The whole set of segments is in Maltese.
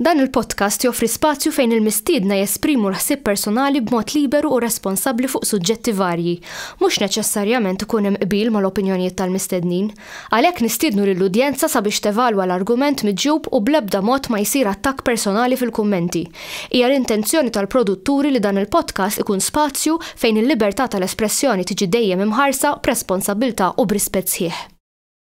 Dan il-podcast joffri spazju fejn il-mistiedna jesprimu l-ħsieb personali b'mod liberu u responsabbli fuq suġġetti varji. Mhux neċessarjament ikun hemm qbil mal-opinjonijiet tal-mistednin. Għalhekk nistiednu lill-udjenza sabiex tevalwa l-argument miġjub u bl-ebda mod ma jsir attakk personali fil-kummenti. Hija l-intenzjoni tal-produtturi li dan il-podcast ikun spazju fejn il-libertà tal-espressjoni tiġi dejjem imħarsa b'responsabbiltà u b'rispett sħiħ.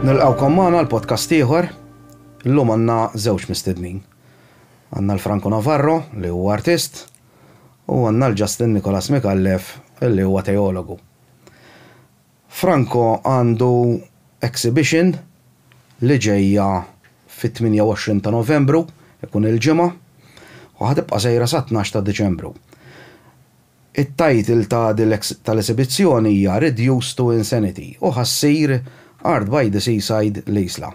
Nilqawkom magħna l-podcast ieħor. Illum għandna żewġ mistednin. Għandna l-Franco Navarro li huwa artist u għandna l-Justin Nikolas Mikallef li huwa teologu. Franco għandu exhibition li ġejja fit-28 ta' Novembru, ikun il-ġimgħa, u ħatibqa' sejra sa 12 ta' Diċembru. It-title ta' tal-esibizzjoni hija Reduced to Insanity u ħa ssir Art by the Seaside, L-Isla.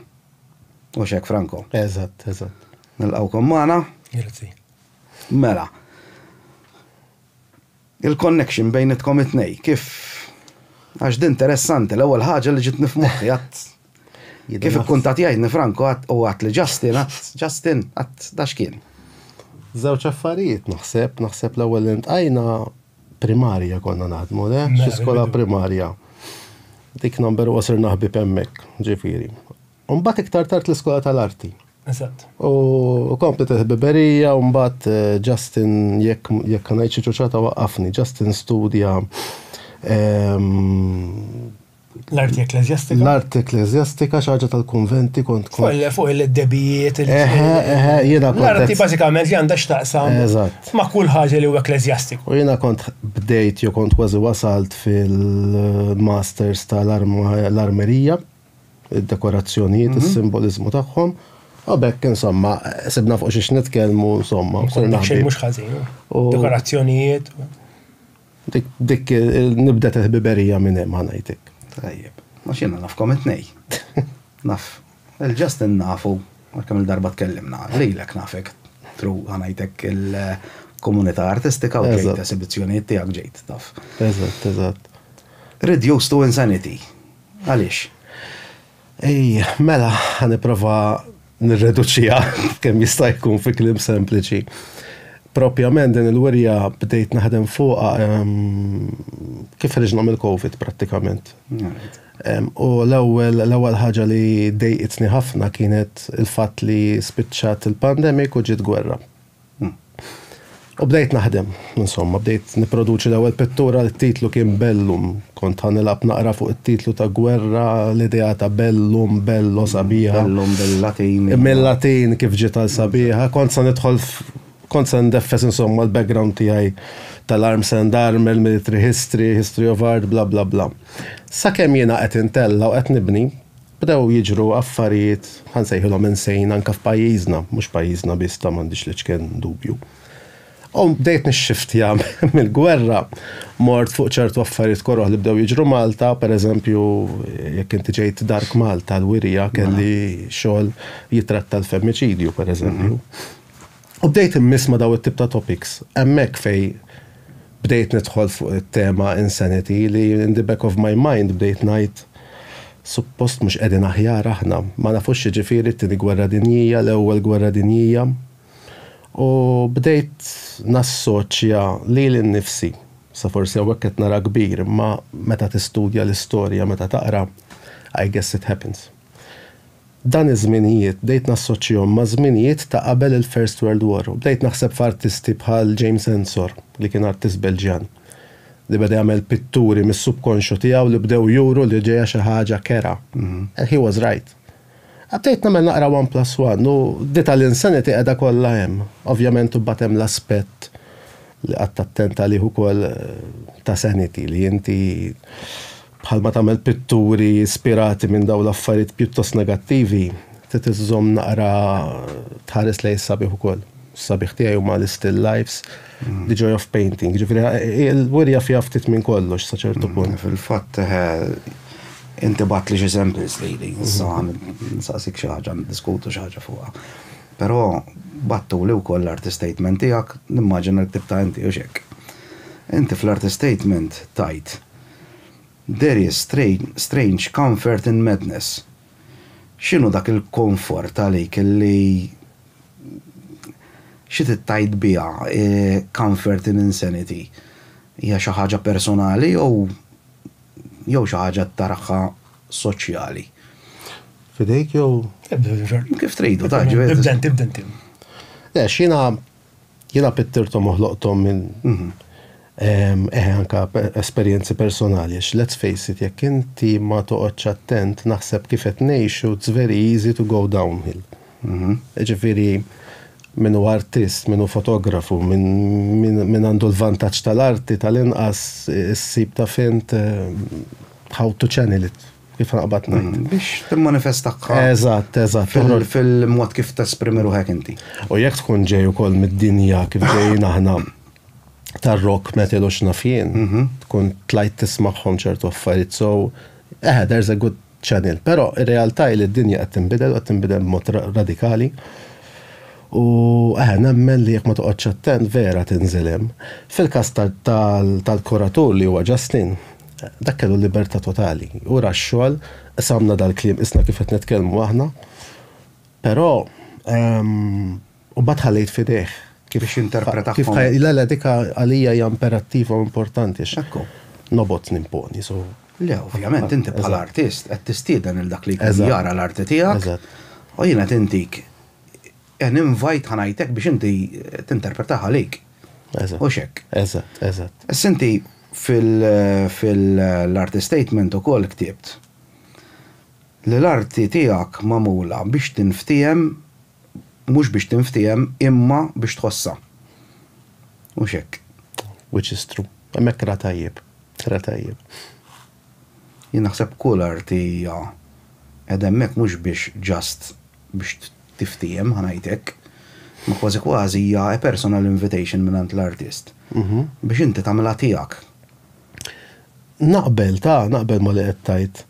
Hux hekk Franco? Eżatt, eżatt. Nilqgħukom magħna. Grazzi. Mela. Il-connection bejnitkom it-tnejn kif għax d'interessanti l-ewwel ħaġa li ġietni f'moħħi għad Kif ikkuntat jgħidni Franco u għat li Justin, Justin, għat da x'kien? Żewġ affarijiet naħseb, naħseb l-ewwel intqajna primarja konna naħdmu, le? Xi skola primarja. Dik number u sirna ħbib hemmhekk, ġifieri. Mbagħad iktar tard l-iskola tal-arti. Eżatt. U komplet il-ħbiberija, u mbagħad eh, Justin jekk jekk ngħid xi ċuċata waqqafni, Justin studja ehm, L-arti ekklesjastika. L-arti ekklesjastika xaġa tal-konventi kont kont. Kolle fuq il-debijiet. Eħe, eħe, jiena kont. L-arti bażikament li għandha x'taqsam. Eżatt. Ma' kull ħaġa li huwa ekklesjastiku. U jiena kont bdejt jew kont kważi wasalt fil-masters tal-armerija, id-dekorazzjonijiet, is-simboliżmu tagħhom. U bekk, insomma, sibna fuq xiex nitkellmu, insomma. Xejn mhux ħażin. Dekorazzjonijiet. Dik, dik, nibdet il-ħbiberija minn hemm, ħa ngħidlek. Tajjeb. Għax jiena nafkom it-tnejn. Naf. Il-Justin nafu, għal kemm il-darba tkellimna, lilek nafek through, ħa ngħidlek, il-komunità artistika u ġejt esibizzjonijiet tiegħek, ġejt, taf. Eżatt, eżatt. Reduced to insanity. Għaliex? Ej, mela, ħa nipprova nirreduċiha kemm jista' jkun fi kliem sempliċi. Propjament din il-wirja bdejt naħdem fuqha kif ħriġna mill-Covid prattikament. U l-ewwel l-ewwel ħaġa li dejqitni ħafna kienet il-fatt li spiċċat il-pandemic u ġiet gwerra. U bdejt naħdem, insomma, bdejt nipproduċi l-ewwel pittura li t-titlu kien Bellum. Kont ħa nilgħab naqra fuq it-titlu ta' gwerra, l-idea ta' bellum, bello, sabiħa. Bellum bil-Latin. Mill-Latin kif ġiet għal sabiħa. Kont se nidħol kont se ndeffes insomma l-background tiegħi tal-arms and armor, military history, history of art, bla bla bla. Sakemm jiena qed intella' u qed nibni, Bdew jiġru affarijiet, ħa nsejħilhom insane, anke f'pajjiżna, mhux pajjiżna biss ta' m'għandix l-iċken dubju. U bdejt nixxiftja mill-gwerra, mort fuq ċertu affarijiet koroh li bdew jiġru Malta, pereżempju jekk inti ġejt Dark Malta l-wirja kelli xogħol jitratta l-femmiċidju pereżempju. U bdejt immiss ma' dawn it-tip ta' topics. Hemmhekk fejn bdejt nidħol fuq it-tema insanity li in the back of my mind bdejt ngħid, Suppost mhux qegħdin aħjar aħna? Ma nafux x'jiġifieri t-Tieni Gwerra Dinjija, l-Ewwel Gwerra Dinjija? U bdejt nassoċja lili nnifsi, sa forsi hawnhekk qed nara kbir, imma meta tistudja l-istorja, meta taqra, I guess it happens. Dan iż-żminijiet bdejt nassoċjhom ma' żminijiet ta' qabel il-First World War u bdejt naħseb f'artisti bħal James Ensor li kien artist Belġjan li beda jagħmel pitturi mis-subkonxju tiegħu li bdew juru li ġejja xi ħaġa kerha and he was right. Bdejt nagħmel naqra one plus one u di tal-insanity qiegħda kollha hemm. Ovvjament imbagħad hemm l-aspett li qatt attent għalih ukoll ta' sanity li inti bħalma tagħmel pitturi ispirati minn dawn l-affarijiet pjuttost negattivi, trid iżżomm naqra tħares lejn is-sabiħ ukoll. Is-sabiħ tiegħi huma l-istill lifes, the joy of painting. Ġifieri il-wirja fiha ftit minn kollox sa ċertu punt. Fil-fatt inti bagħtli xi samples lili, issa nsaqsik xi ħaġa niddiskutu xi ħaġa fuqha. Però battuli wkoll l-artist statement tiegħek, nimmaġina li ktibtha inti u x'hekk. Inti fl-artist statement tajt There is strange comfort in madness. X'inhu dak il-konfort għalik li xi trid tgħid biha comfort in insanity? Hija xi ħaġa personali jew jew xi ħaġa tarħha soċjali? F'idejk jew? Kif tridu, ta' ġifieri. Ibda int, ibda int. Le, x'jiena Jiena pittirthom u ħloqthom minn, eħe anke esperjenzi personali għax let's face it jekk inti ma toqgħodx attent naħseb kif qed ngħixu it's very easy to go downhill. Jiġifieri min hu artist, min hu fotografu, min għandu l-vantaġġ tal-arti tal-inqas issib taf int how to channel it. kif naqbad ngħid. Mm, biex timmanifestaħħa. Eżatt, eżatt. Fil-mod kif tesprimi ruħek inti. U jekk tkun ġej ukoll mid-dinja kif ġejjin aħna tar-rock metal u xnafjien, mhm. tkun tlajt tismagħhom ċertu affarijiet so eh, there's a good channel. Però ir-realtà li d-dinja qed tinbidel u qed tinbidel b'mod radikali. U eħe, nemmen li jek ma toqgħodx attent vera tinżilem. Fil-kas tal-kuratur li huwa Justin, Dak kellu libertà totali. U ra x-xogħol, samna dal-kliem isna kif qed nitkellmu aħna. Però u bad ħallejt fidejh. Kif xinterpreta kif Le le dika għalija hija imperattiva u importanti. Ekku. Nobot nimponi, so. Le, ovvjament inti bħala artist qed tistieden lil dak li jkun jara l-arti tiegħek. Eżatt. U jien qed intik An invite ħa ngħidlek biex inti tinterpretaha għalik. Eżatt. Hux hekk? Eżatt, eżatt. Issa inti fil-arti statement ukoll ktibt li l-arti tiegħek magħmula biex tinftiehem, mhux biex tinftiehem imma biex tħossha. Hux hekk? Which is true. Hemmhekk ra tajjeb. Ra tajjeb. Jien naħseb kull arti hija qegħda hemmhekk mhux biex just biex tiftiehem, ħa ngħid hekk, ma kważi kważi hija a personal invitation mingħand l-artist biex inti tagħmilha tiegħek. Naqbel, ta, naqbel ma li qed tgħid.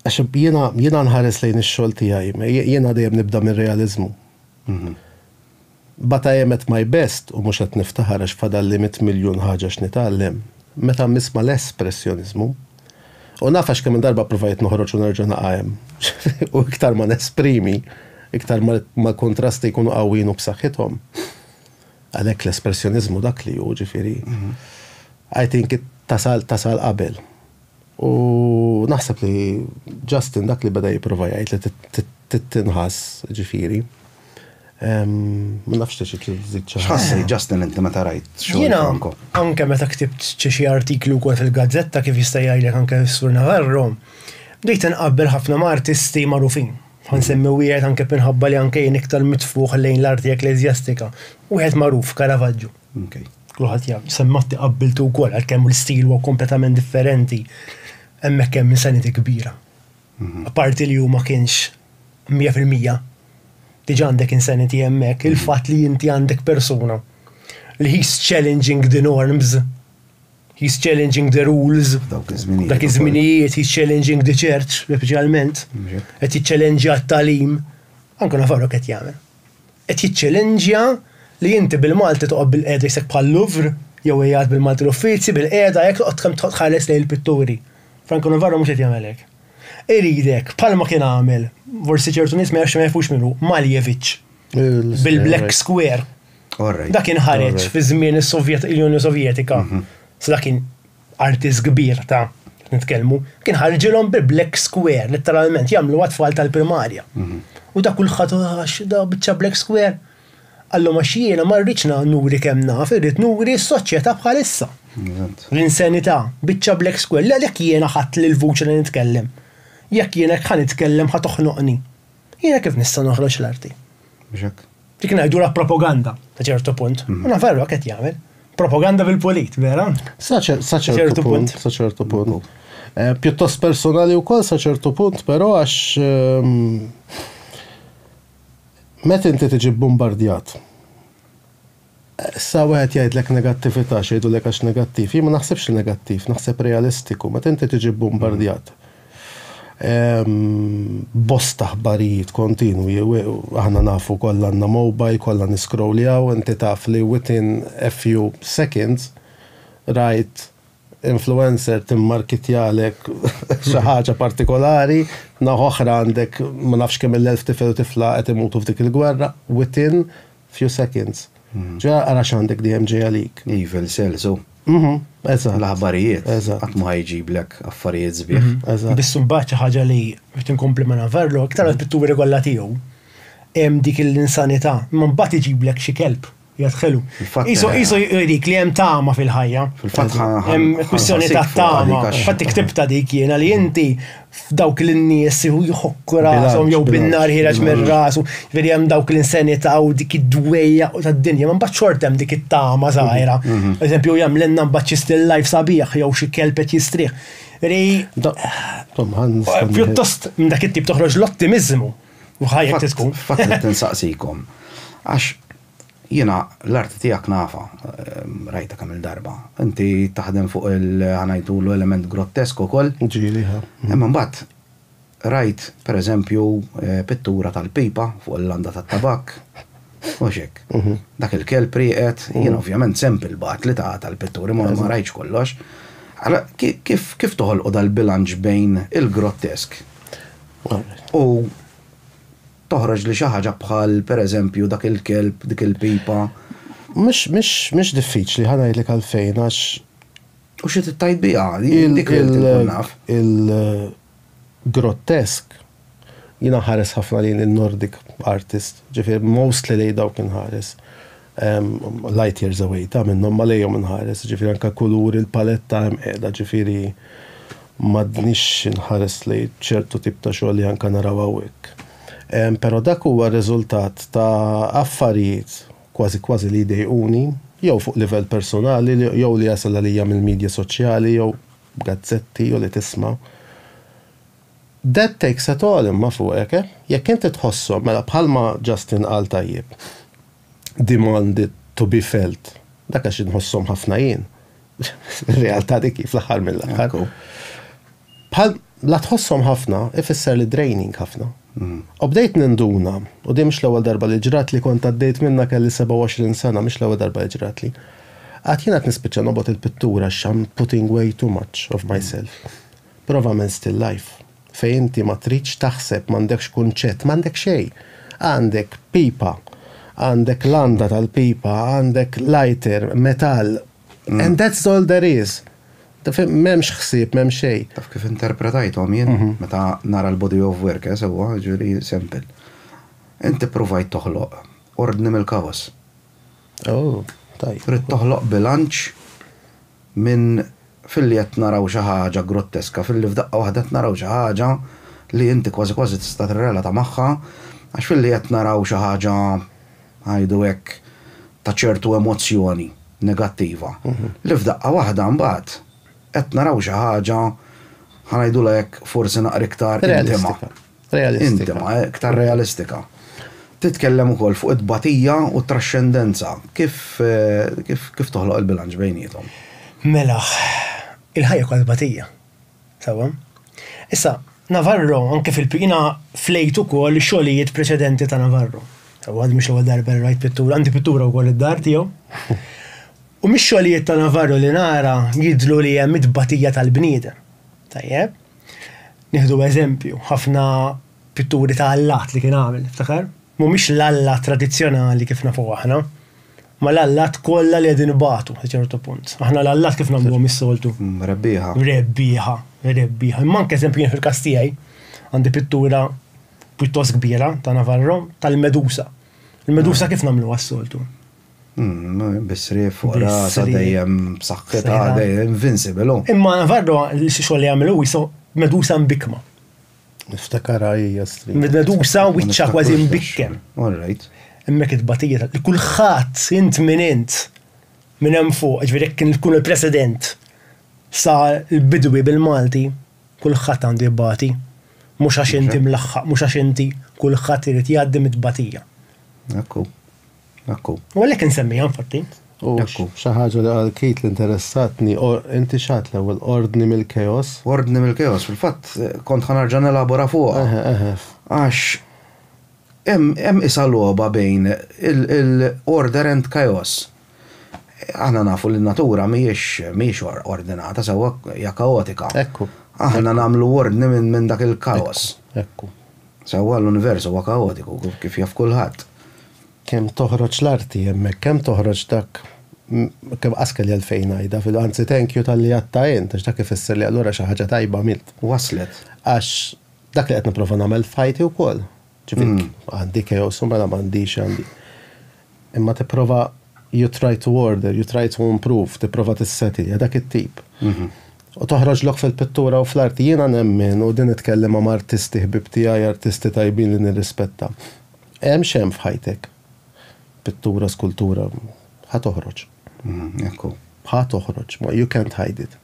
Għax jiena nħares lejn ix-xogħol tiegħi, jiena dejjem nibda mir-realiżmu. But I am at my best u mhux qed niftaħar għax fadalli mitt miljun ħaġa x'nitgħallem, meta nisma' l-espressjoniżmu. U naf għax kemm-il darba ppruvajt noħroġ u nerġa' naqa' hemm. U iktar ma nesprimi, iktar ma l-kuntrasti jkunu qawwijin u b'saħħithom. Għalhekk l-espressjoniżmu dak li hu, ġifieri, I think it tasal, tasal qabel. U naħseb li Justin dak li beda jipprova jgħid li trid tinħass, ġifieri. Ma nafx tixi tżid xi ħassej Justin inti meta rajt xogħol Franco. Anke meta ktibt xi artiklu wkoll fil-gazzetta kif jista' jgħidlek anke Sur Navarro, bdejt inqabbel ħafna ma' artisti magħrufin. Ħansemmi wieħed anke minħabba li anke jien iktar mitfugħ lejn l-arti ekkleżjastika. Wieħed magħruf, Caravaggio. Okay. Kulħadd jaf, semmatti qabbiltu wkoll għalkemm l-istil huwa kompletament differenti hemmhekk hemm insanity kbira. Mhm. Parti li huma kienx 100% diġa għandek insanity hemmhekk, mhm. il-fatt li inti għandek persuna li he's challenging the norms, he's challenging the rules, dak iż-żminijiet, he's challenging the church, speċjalment, mhm. qed jiċċellenġja t-talim, anke nafarok qed jagħmel. Qed jiċċelenġja li inti bil-Malti toqgħod bilqiegħda jisek bħal Louvre jew qiegħed bil-Malti l-uffizi bilqiegħda hekk toqgħod kemm toqgħod tħares lejn il-pitturi. Franco Navarro mhux qed jagħmel hekk. Iridek, bħalma kien għamel, forsi ċertu nies ma jafx ma jafux min hu, Malevich, bil-Black Square. Dak inħareġ fi żmien is-Sovjet, il-Unjoni Sovjetika. Sa dak kien artist kbir ta' qed nitkellmu, kien ħarġilhom bi black square, letteralment jagħmlu għat-tfal tal-primarja. Mhm. U da kulħadd għax da biċċa black square. Għallhom għax jiena ma rridx nuri kemm naf, irrid nuri s-soċjetà bħalissa. L-insanità, biċċa black square, l-għalek jiena ħadd l-vuċi li nitkellem. Jekk jiena ħan nitkellem ħat toħnoqni. Jiena kif nista' noħroġ l-arti? Biex hekk. Dik ngħidulha propaganda ta' ċertu punt. Mhm. U nafarru qed jagħmel. Propaganda bil-pulit, vera? Sa ċertu punt, sa ċertu punt. Mhm. Eh, pjuttost personali wkoll sa ċertu punt, però għax ehm, meta inti tiġi bombardjat Issa wieħed jgħidlek negattività, x'jgħidulek għax negattiv. Jien ma naħsibx li negattiv, naħseb realistiku. Meta inti tiġi bbumbardjat b'bosta ħbarijiet kontinwi, aħna nafu kollha għandna mobile, kollha niscrolljaw, inti taf li within a few seconds rajt influencer timmarkitjalek xi ħaġa partikolari, naħa oħra għandek ma nafx kemm-il elf tifel u tifla qed imutu f'dik il-gwerra, within Few seconds. Ġa ara x'għandek dejjem ġej għalik. Evil cells hu. Mhm, eżatt. L-aħbarijiet. Eżatt. Qatt ma ħajġiblek affarijiet sbieħ. Mhm, eżatt. Biss imbagħad xi ħaġa li biex tinkompli ma' Navarro, iktar għal pitturi kollha tiegħu, hemm dik l-insanità, imma mbagħad iġiblek xi kelb jadħelu. Qisu qisu jgħidik li hemm tama fil-ħajja. Fil-fatt hemm kwistjoni ta' tama. Fatt iktibta dik jiena li inti f'dawk l-nies jħokku rasom jew bin-nar ħireġ minn rasu, veri hemm dawk l-insanità u dik id-dwejja u tad-dinja, ma mbagħad xort hemm dik it-tama żgħira. Mhm, mhm. Eżempju, hemm l-enna mbagħad xi still life sabiħ jew xi kelb qed jistrieħ. Veri. Pjuttost minn dak it-tip toħroġ l-ottimizmu. U ħajja tkun. Fatt tinsaqsikom. Għax Jiena l-arti tiegħek nafha, rajta kemm-il darba. Inti taħdem fuq il, ħa ngħidulu, element grottesk ukoll. Ġieli, ha. Imma mbagħad rajt, per eżempju, pittura tal-pipa fuq il-landa tat-tabakk, u mhux hekk. Dak il-kelb rieqed, jien ovvjament sempli batli ta' tal-pitturi, ma rajtx kollox. Allura kif, kif toħolqu dal-bilanċ bejn il-grottesk u. Toħroġ li xi ħaġa bħal, pereżempju, dak il-kelb, dik il-pipa. Mhux, mhux, mhux diffiċli, ħa ngħidlek għalfejn, għax. U xi trid tgħid biha, jien dik li rrid inkun naf. Il-grottesk, jien inħares ħafna lejn in-Nordic artist, ġifieri mostly lejn dawk inħares. Light years away, ta' minnhom ma lejhom inħares, jiġifieri anke kuluri l-paletta hemm qiegħda, jiġifieri m'għadnix inħares lejn ċertu tip ta' xogħol li anke naraw hawnhekk. Però dak huwa r-riżultat ta' affarijiet kważi kważi li jdejquni jew fuq livell personali jew li jasal għalija mill-midja soċjali jew gazzetti jew li tisma'. That takes a toll imma fuqek, eh? Jekk inti tħosshom, mela bħalma Justin qal tajjeb, demand to be felt. Dak għax inħossom ħafna jien. Realtà dik fl-aħħar mill-aħħar. Bħal la tħossom ħafna ifisser li draining ħafna. Mm. U bdejt ninduna, u di mhux l-ewwel darba li ġrat li kont għaddejt minna kelli 27 sena mhux l-ewwel darba li ġrat li. Għad jiena nispiċċa nobgħod il-pittura x'am putting way too much of myself. Prova minn still life. Fejn inti ma tridx taħseb, m'għandekx kunċett, m'għandek xejn. Għandek pipa, għandek landa tal-pipa, għandek lighter, metall, and that's all there is. M'hemmx ħsieb, m'hemm xejn. Taf kif interpretajthom jien meta nara l-body of work, eh, sewwa, jiġifieri, sample. Inti ppruvajt toħloq ordni mill-kaos. Trid toħloq bilanċ minn filli qed naraw xi ħaġa grotteska, filli f'daqqa waħda qed naraw xi ħaġa li inti kważi kważi tista' tirrelata magħha, għax filli qed naraw xi ħaġa, ngħidu hekk, ta' ċertu emozzjoni negattiva, li f'daqqa waħda mbagħad qed naraw xi ħaġa, ħa ngħidulha hekk, forsi naqra iktar intima. Realistika. Intima, iktar realistika. Titkellem ukoll fuq it-tbatija u t-traxxendenza. Kif kif kif toħloq il-bilanċ bejniethom? Mela, il-ħajja kollha tbatija. Sewwa? Issa, Navarro, anke fil jiena flejt ukoll xogħlijiet preċedenti ta' Navarro. Sewwa, mhix l-ewwel darba li rajt pittura, għandi pittura wkoll id-dar tiegħu. U mix-xogħlijiet ta' Navarro li nara jidhlu li hemm it-tbatija tal-bniedem. Tajjeb? Nieħdu eżempju, ħafna pitturi ta' allat li kien għamel, tiftakar? Mhumiex l-allat tradizzjonali kif nafuh aħna, ma l-allat kollha li qegħdin ibatu sa ċertu punt. Aħna l-allat kif nagħmluhom is-soltu? Rebbieħa. Rebbieħa, rebbieħa. Imma anke eżempju jien fil-każ tiegħi għandi pittura pjuttost kbira ta' Navarro tal-medusa. Il-medusa kif nagħmluha s-soltu? Bisrif fuq rasa dejjem b'saħħitha, dejjem invincible. Imma Navarro xi xogħol li jagħmel hu jisu medusa mbikma. Niftakar hija stri. Medusa wiċċa kważi mbikkem. All right. Hemmhekk it-tbatija li kulħadd int minn int minn hemm fuq, ġifieri jekk kien tkun il-President sa l-bidwi bil-Malti kulħadd għandu jibbati. Mhux għax inti mlaħħaq, mhux għax inti kulħadd irid jgħaddi mit-tbatija. Hekk hu. Akku. U għalhekk insemmiha infatti. U akku, xi ħaġa li qal Kit li interessatni, inti x'għad l-ewwel ordni mill-keos? Ordni mill-keos, fil-fatt kont ħa nerġa' nelabora fuqha. Eħe, eħe. Għax hemm qisha logħba bejn il-order and chaos. Aħna nafu li n-natura mhijiex ordinata sewwa, hija kaotika. Ekku. Aħna nagħmlu ordni minn dak il-kaos. Ekku. Sewwa l-univers huwa kaotiku, kif jaf kulħadd. Kemm toħroġ l-arti hemmhekk, kemm toħroġ dak, kemm qas kelli għalfejn ngħidha, fil-, anzi thank you talli għadtha int, għax dak ifisser li allura xi ħaġa tajba għamilt. Waslet. Għax dak li qed nipprova nagħmel f'ħajti wkoll. Ġifieri, għandi chaos u mela m'għandix, għandi. Imma tipprova you try to order, you try to improve, tipprova tisseti, hija dak it-tip. U toħroġlok fil-pittura u fl-arti. Jiena nemmen, u din nitkellem ma' artisti ħbieb tiegħi, artisti tajbin li nirrispetta, hemm x'hemm f'ħajtek, pittura, skultura, ħa toħroġ. Ekku, ħa toħroġ, ma you can't hide it.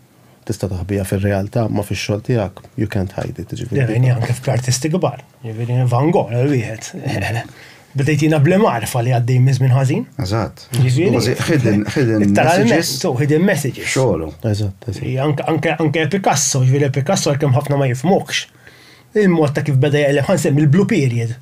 Tista' taħbiha fir-realtà, imma fix-xogħol tiegħek you can't hide it, jiġifieri. Dejjem hija anke fl-artisti kbar, jiġifieri Van Gogh wieħed. Bdejtina bl-imgħarfa li għaddej minn żmien ħażin. Eżatt. Jiġifieri. Hidden, hidden. Literalment, so hidden messages. Xogħolu. Eżatt, eżatt. Anke anke Picasso, jiġifieri Picasso għalkemm ħafna ma jifmokx. Il-mod ta' kif beda jgħelem ħansem il-blue period.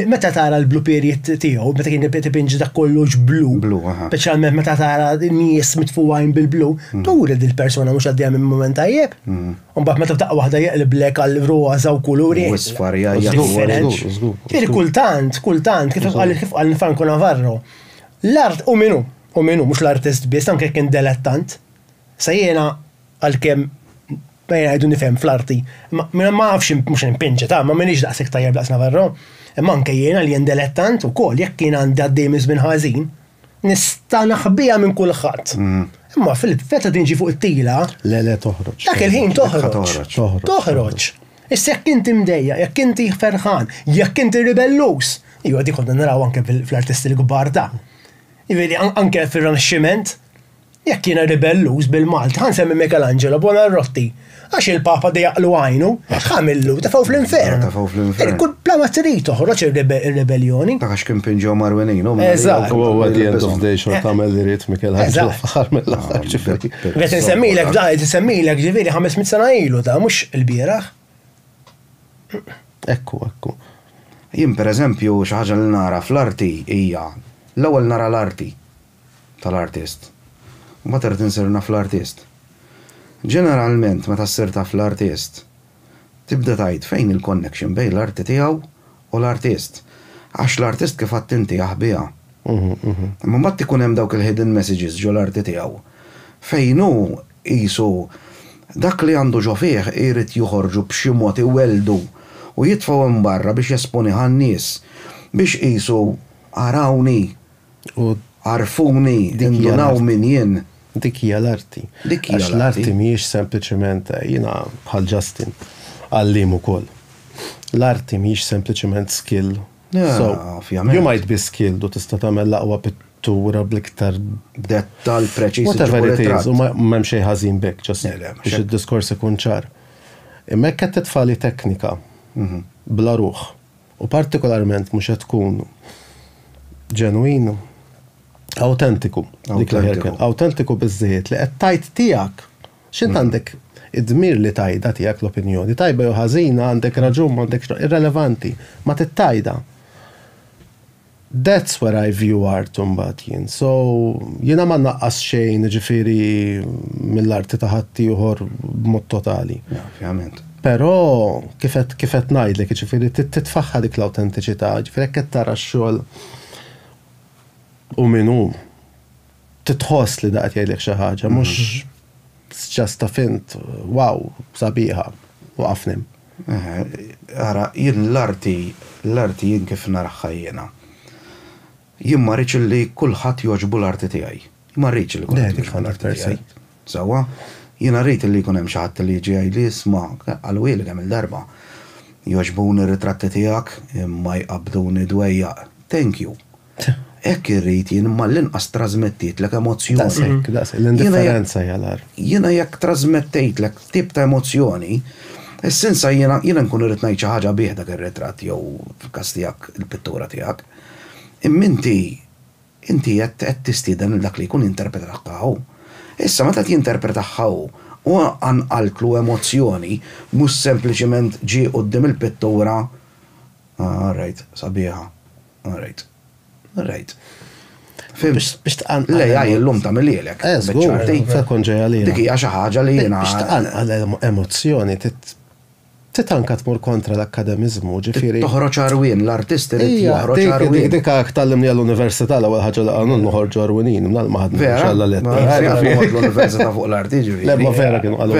Meta tara l-blue period tiegħu, meta kien tipinġi dak kollox blu. Blu, aha. Speċjalment meta tara nies mitfuwajn bil-blu, mm. turi li l-persuna mhux għaddejja minn mument tajjeb. Mm. U mbagħad meta taqwa waħda jeqliblek għal roża u kuluri. Isfar jgħid. Kultant, kultant, kif qal kif qal Franco Navarro, l-art u minu, u minu, mhux l-artist biss, anke kien delettant. Sa jiena għalkemm Bajja jgħidu nifhem fl-arti, imma minn ma nafx mhux impinġi ta' ma minix daqshekk tajjeb daqs Navarro, imma anke jiena li jien delettant ukoll jekk jien għandi għaddej minn żmien ħażin, nista' naħbiha minn kulħadd. Imma Filip meta tiġi fuq it-tila, dak il-ħin toħroġ, toħroġ. Issa jekk inti mdejjaq, jekk inti ferħan, jekk inti ribellus, iva dik konna naraw anke fl-artisti l-kbar ta'. Jiġifieri anke fir-Rinaxximent, Jekk jiena ribelluż bil-Malti, ħa nsemmi Michelangelo Buonarroti, għax il-Papa dejaqlu għajnu, x'għamillu? Tefgħu fl-infern. Tefgħu fl-infern. Kull bla ma trid toħroġ ir-ribeljoni. Dak għax kien pinġew marwinejnu. Eżatt. U għu għad jgħid of day xorta għamel li rrit Michelangelo fl-ħar mill-ħar ġifiri. Għet nsemmilek, da, għet nsemmilek ġifiri 500 sena ilu da, mux il-biraħ. Ekku, ekku. Jim per eżempju, xaħġa li nara fl-arti hija l-ewwel nara l-arti tal-artist. Mbagħad irrid insir naf l-artist. Ġeneralment meta ssir taf l-artist, tibda tgħid fejn hi l-connection bejn l-arti tiegħu u l-artist. Għax l-artist kif għedt inti jaħbiha. Imma mbagħad ikun hemm dawk il-hidden messages ġo l-arti tiegħu fejn hu qisu dak li għandu ġo fih jrid joħorġu b'xi mod iwelldu u jitfgħu hemm barra biex jesponih għan-nies biex qisu arawni U. Għarfuni, indunaw min jien. Dik hija l-arti. Dik hija l-arti. Għax l-arti mhijiex sempliċement, jiena bħal Justin, għalliem ukoll. L-arti mhijiex sempliċement skill. So, you might be skilled u tista' tagħmel l-aqwa pittura bl-iktar. Dettall preċiż. Whatever it is, u m'hemm xejn ħażin b'hekk, just biex id-diskors ikun ċar. Imma jekk qed titfagħli teknika bla ruħ. u partikolarment mhux qed tkun ġenwin, awtentiku, dik l-aħjar kelma, awtentiku biżżejjed li qed tgħid tiegħek, x'int għandek id-dmir li tgħidha tiegħek l-opinjoni, tajba jew ħażina, għandek raġun, m'għandekx, irrelevanti, ma titgħidha. That's where I view art imbagħad jien. So, jiena ma nnaqqas xejn jiġifieri mill-arti ta' ħaddieħor b'mod totali. Ovvjament. Però kif qed kif qed ngħidlek jiġifieri trid titfaħħa dik l-awtentiċità, jiġifieri jekk qed tara x-xogħol hu min hu, titħoss li da qed jgħidlek xi ħaġa, mhux it's just a fint, wow, sabiħa, waqafni. Ara, jien l-arti, l-arti jien kif naraħħa jiena. Jien ma rridx li kulħadd jogħġbu l-arti tiegħi. Ma rridx li kulħadd jogħġbu l-arti tiegħi. Sewwa, jiena rrid li jkun hemm xi ħadd li jiġi jgħidli isma' qalwieli kemm il-darba. Jogħġbuni r-ritratti tiegħek imma jqabbduni dwejjaq. Thank you. Hekk irrid jien imma l-inqas trażmettietlek emozzjoni. Daqshekk, daqshekk. L-indifferenza hija l-agħar. Jiena jekk trażmettejtlek tip ta' emozzjoni, is-sinsa jiena, jiena nkun irrid ngħid xi ħaġa bih dak ir-ritratt jew fil-każ tiegħek il-pittura tiegħek. Imma inti, inti qed, qed tistieden lil dak li jkun jinterpretahha hu. Issa meta qed jinterpretahha hu, hu qanqaltlu emozzjoni, mhux sempliċement ġie quddiem il-pittura, ah, all right, sabiħa. All right. All right. Fimx. Biex tqanqal. L-AI illum ta' milielek. Eh, zgur, fekun ġeja li. Dik hija xi ħaġa li jiena. Biex tqanqal emozzjoni, titanka tmur kontra l-akkademizmu, ġifieri. Toħroġ arwin, l-artisti li joħroġ arwin. Dik għak tal-limni għall-università l-ewwel ħaġa li għanun noħorġu arwinin, mnal maħad nħarġ għall-letta. L-università fuq l-arti ġifieri. Lemma vera kienu għallu.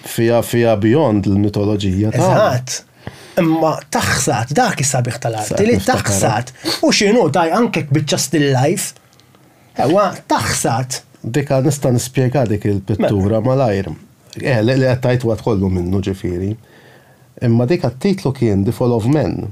Fiha fiha beyond il-mitoloġija tagħna. Eżatt. Imma taħsad, dak is-sabiħ tal-arti, li taħsad u x'inhu taj anke biċċa still life. Ewwa, taħsad. Dik nista' nispjega dik il-pittura malajr. Eh, li qed tgħid waqt kollu minnu ġifieri. Imma dik t-titlu kien The Fall of Men.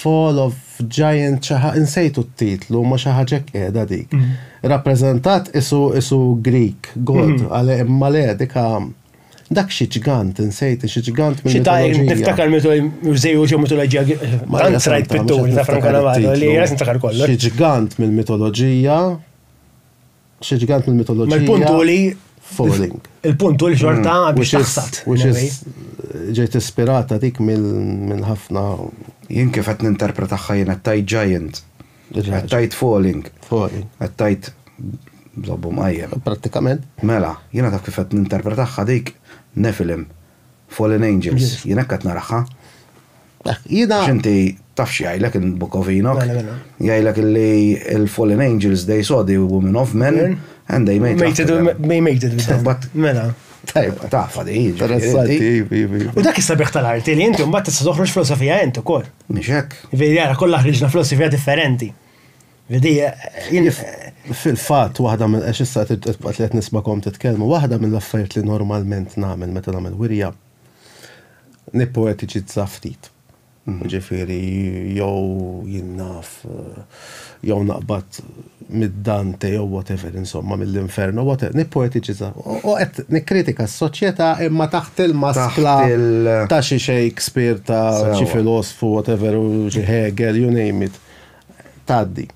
Fall of Giant xi ħa insejtu t-titlu ma xi ħaġa hekk qiegħda dik. Rappreżentat isu isu Greek god għal imma le dik dak xi ġgant insejt xi ġgant minn. Xi ta' niftakar mitu żejju xi mitoloġija tant rajt pitturi ta' Franco Navara li jesni ta' kollu. Xi ġgant mill-mitoloġija. Xi ġgant mill-mitoloġija. Ma l-punt hu li. Falling. Il-punt hu li xorta mm. biex taħsad. Which is ġejt ispirata dik minn ħafna. Jien kif qed ninterpretaħħa jien qed tajt giant. Qed tajt falling. Falling. Qed tajt żobbu mqajjem. Prattikament. Mela, jiena taf kif qed ninterpretaħħa dik Nephilim. Fallen Angels. Jien hekk qed naraħħa. Jiena. X'inti taf x'jgħidlek il-Book of Enoch? Mela, mela. Jgħidlek li l-fallen angels they saw the woman of men and they made it. They made it. But. Mela. Tajba, tafa di. U dak is-sabiħ tal-arti li inti mbagħad tista' toħroġ filosofija int ukoll. Mhix hekk. Vedi jara kollha ħriġna filosofija differenti. Vedi fil-fatt waħda minn għax issa qed nismakom titkellmu, waħda mill-affarijiet li normalment nagħmel meta nagħmel wirja Nippoetiċizza ftit. Ġifieri jew jien naf jew naqbad mid-Dante jew whatever insomma mill-Inferno whatever nippoetiċizza. U qed nikkritika s-soċjetà imma taħt il-maskla ta' xi Shakespeare ta' xi filosfu whatever u xi Hegel you name it. Tgħaddi.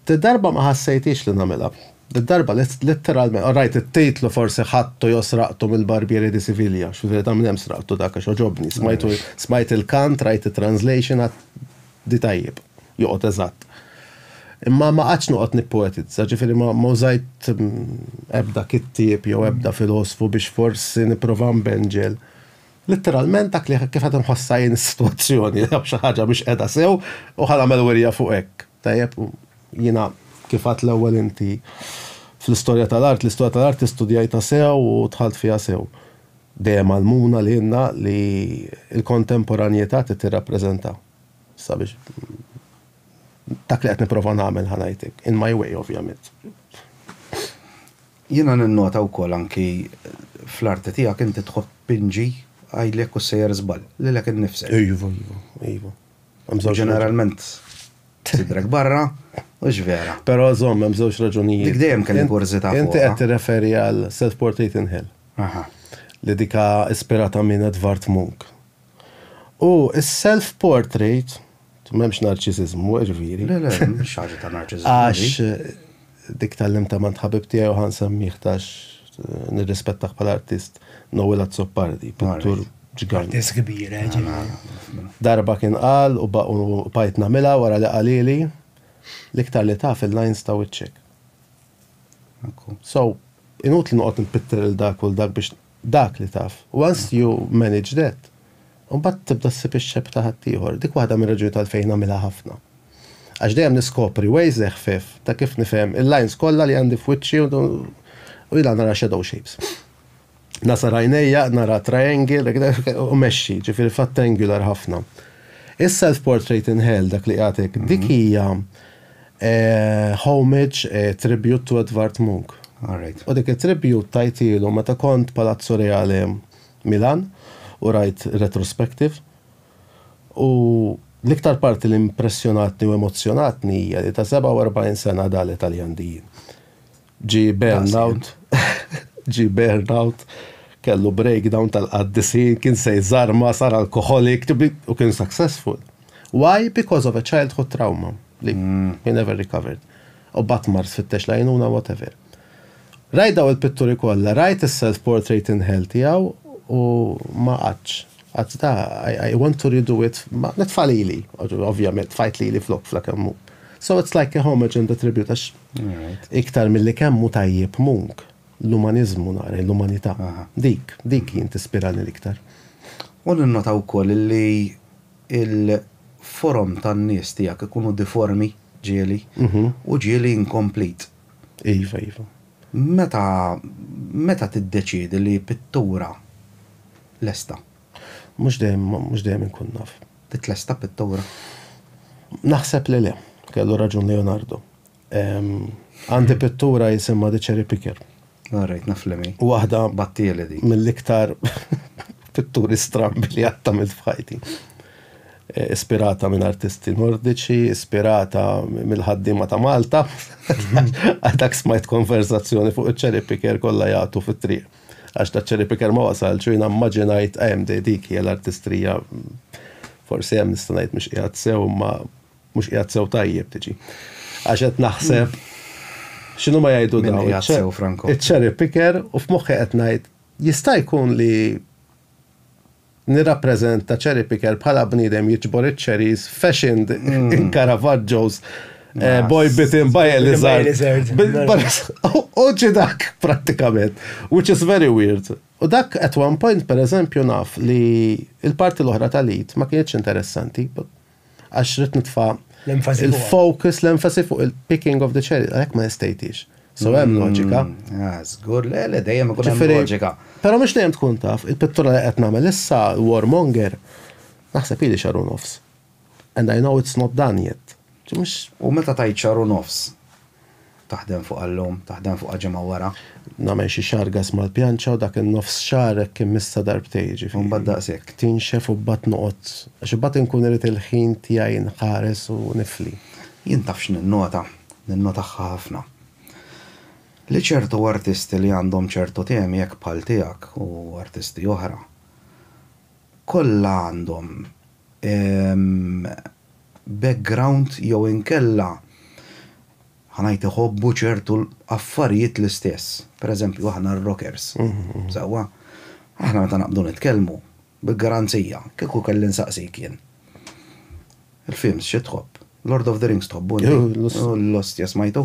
Did-darba ma ħassejtix li nagħmilha. Did-darba litteralment qrajt it-titlu forsi ħadtu jew sraqtu mill-Barbieri di Siviglia, x'jiġifieri ta' minn hemm sraqtu dak għax għoġobni, smajtu, smajt il-kant, rajt it-translation għadt di tajjeb, joqgħod eżatt. Imma ma qgħadtx noqgħod nippoetizza, jiġifieri ma użajt ebda kittieb jew ebda filosfu biex forsi nipprova nbenġel. Litteralment dak li kif qed inħossha jien is-sitwazzjoni, xi ħaġa mhix qiegħda sew u ħa nagħmel wirja fuq hekk. Tajjeb, jiena kif għidt l-ewwel inti fl-istorja tal-art, l-istorja tal-art studjajtha sew u dħalt fiha sew. Dejjem għallmuna lilna li l-kontemporanjetà trid tirrappreżenta sabiex dak li qed nipprova nagħmel ħa ngħid hekk, in my way ovvjament. Jiena ninnota wkoll anki fl-arti tiegħek inti tħobb pinġi, għidli jekk hux sejjer żball, lilek innifsek. Iva, iva, iva. Ġeneralment sidrek barra u x'vera. Però żomm hemm żewġ raġunijiet. Dik dejjem kelli kurżità fuqha. Inti qed tirreferi għal Self-Portrait in Hell. Aha. Li dika ispirata minn Edvard Munch. U s-self-portrait, m'hemmx narċisiżmu, jiġifieri. Le le, mhix ħaġa ta' narċisiżmu. Għax. Dik tgħallimtha m'għand ħabib tiegħi u ħa nsemmieh għax nirrispettah bħala artist, Noel Azzopardi, pittur ġganj. Artist kbir, eh, ġieli. Darba kien qal u baqgħet nagħmilha wara li qalili, L-iktar li taf il-lines ta' wiċċek. Ekku. So, inutli noqgħod inpitter lil dak u lil dak biex Dak li taf. Once you manage that, imbagħad tibda ssib ix-shape ta' ħaddieħor. Dik waħda mir-raġunijiet għalfejn nagħmilha ħafna. Għax dejjem niskopri ways eħfef ta' kif nifhem il-lines kollha li għandi f'wiċċi u jiena nara shadow shapes. Ngħasar għajnejja, nara triangle, u mexxi, jiġifieri f'attangular ħafna. Is-self-portrait in hell, dak li qiegħed hekk, dik hija Homage, Tribute to Edvard Munch. U dik it-tribute tajtielu meta kont Palazzo Reale Milan u rajt retrospective. U l-iktar parti li impressjonatni u emozzjonatni hija li ta' 47 sena Dali Taljan Dijin. Ġie burnout, ġie burnout, kellu breakdown tal-qaddisin, kien se jżarma, sar alkoħolik, u kien successful. Why? Because of a childhood trauma li mm. he never recovered. U bat mar sfittex lajnuna whatever. Rajt daw il-pitturi kollha, rajt is-self-portrait in hell tiegħu u ma qaċ. Qaċ da, I, want to redo it, ma netfalili, ovvjament, fajt li li flok flakemmu. So it's like a homage and a tribute, għax Iktar milli kemm hu tajjeb Munch, l-umaniżmu nara, l-umanità, dik, dik jien tispirani l-iktar. U ninnota wkoll li l-forom tan-nies tiegħek ikunu diformi, ġieli, u ġieli inkomplit. Iva, iva. Meta, meta tiddeċiedi li pittura lesta? Mhux dejjem, mhux dejjem inkun naf. Titlesta pittura? Naħseb li le. Kellu raġun Leonardo. Għandi pittura jisimha The Cherry Picker. Ah, rajt naf li mi. Waħda. Battieli di. Mill-iktar pitturi strambi li għatta minn fħajti. Eh, ispirata minn artisti nordiċi, ispirata mill-ħaddima ta' Malta, għadak smajt konverzazzjoni fuq il-cherry picker kolla jgħatu fit-triq. Għax da cherry picker ma wasalx u jiena mmaġinajt ehm di dik hija l-artistrija forsi hemm nista' ngħid mhux qiegħed sew imma mhux qiegħed sew tajjeb tiġi. Għax qed naħseb x'inhu ma jgħidu Min dawn qiegħed iċ-cher- sew, Franco? iċ-cherry picker u f'moħħi qed ngħid jista' jkun li Nirrappreżenta Cherry Picker bħala bniedem jiġbor iċ-cherries fashioned in Caravaggios boy bitten by a lizard. U ġi dak prattikament, which is very weird. U dak at one point pereżempju naf li l-parti l-oħra tal-Eid ma kinitx interessanti. Għax rrit nitfa' l-focus, l-enfasi fuq il-picking of the cherry, għalek ma nistejtix. So hemm mm, loġika. Ah, Zgur, le, le, dejjem ikun hemm loġika. Pero mux dejjem tkun taf, il-pittura li qed nagħmel issa warmonger, naħseb ili xaru nofs. And I know it's not done yet. U meta tajt xaru nofs, Taħdem fuqha llum, taħdem fuqha ġimgħa wara. Nagħmel xi xargas mal-pjanċa u dak in-nofs xahar hekk immissha darbtejn, jiġifieri. U mbagħad daqshekk. Tinxef u mbagħad noqgħod, għax imbagħad inkun irid il-ħin tiegħi inħares u nifli. Jien taf x'ninnota, ninnotahha ħafna, li ċertu artisti li għandhom ċertu temi hekk bħal tiegħek u artisti oħra, kollha għandhom background jew inkella ħa ngħid iħobbu ċertu affarijiet l-istess. Per eżempju aħna r-rockers, sewwa? Aħna meta naqbdu nitkellmu, bil-garanzija, kieku kelli nsaqsik jien, Il-films xi tħobb? Lord of the Rings tħobbu? L-ostja smajtu?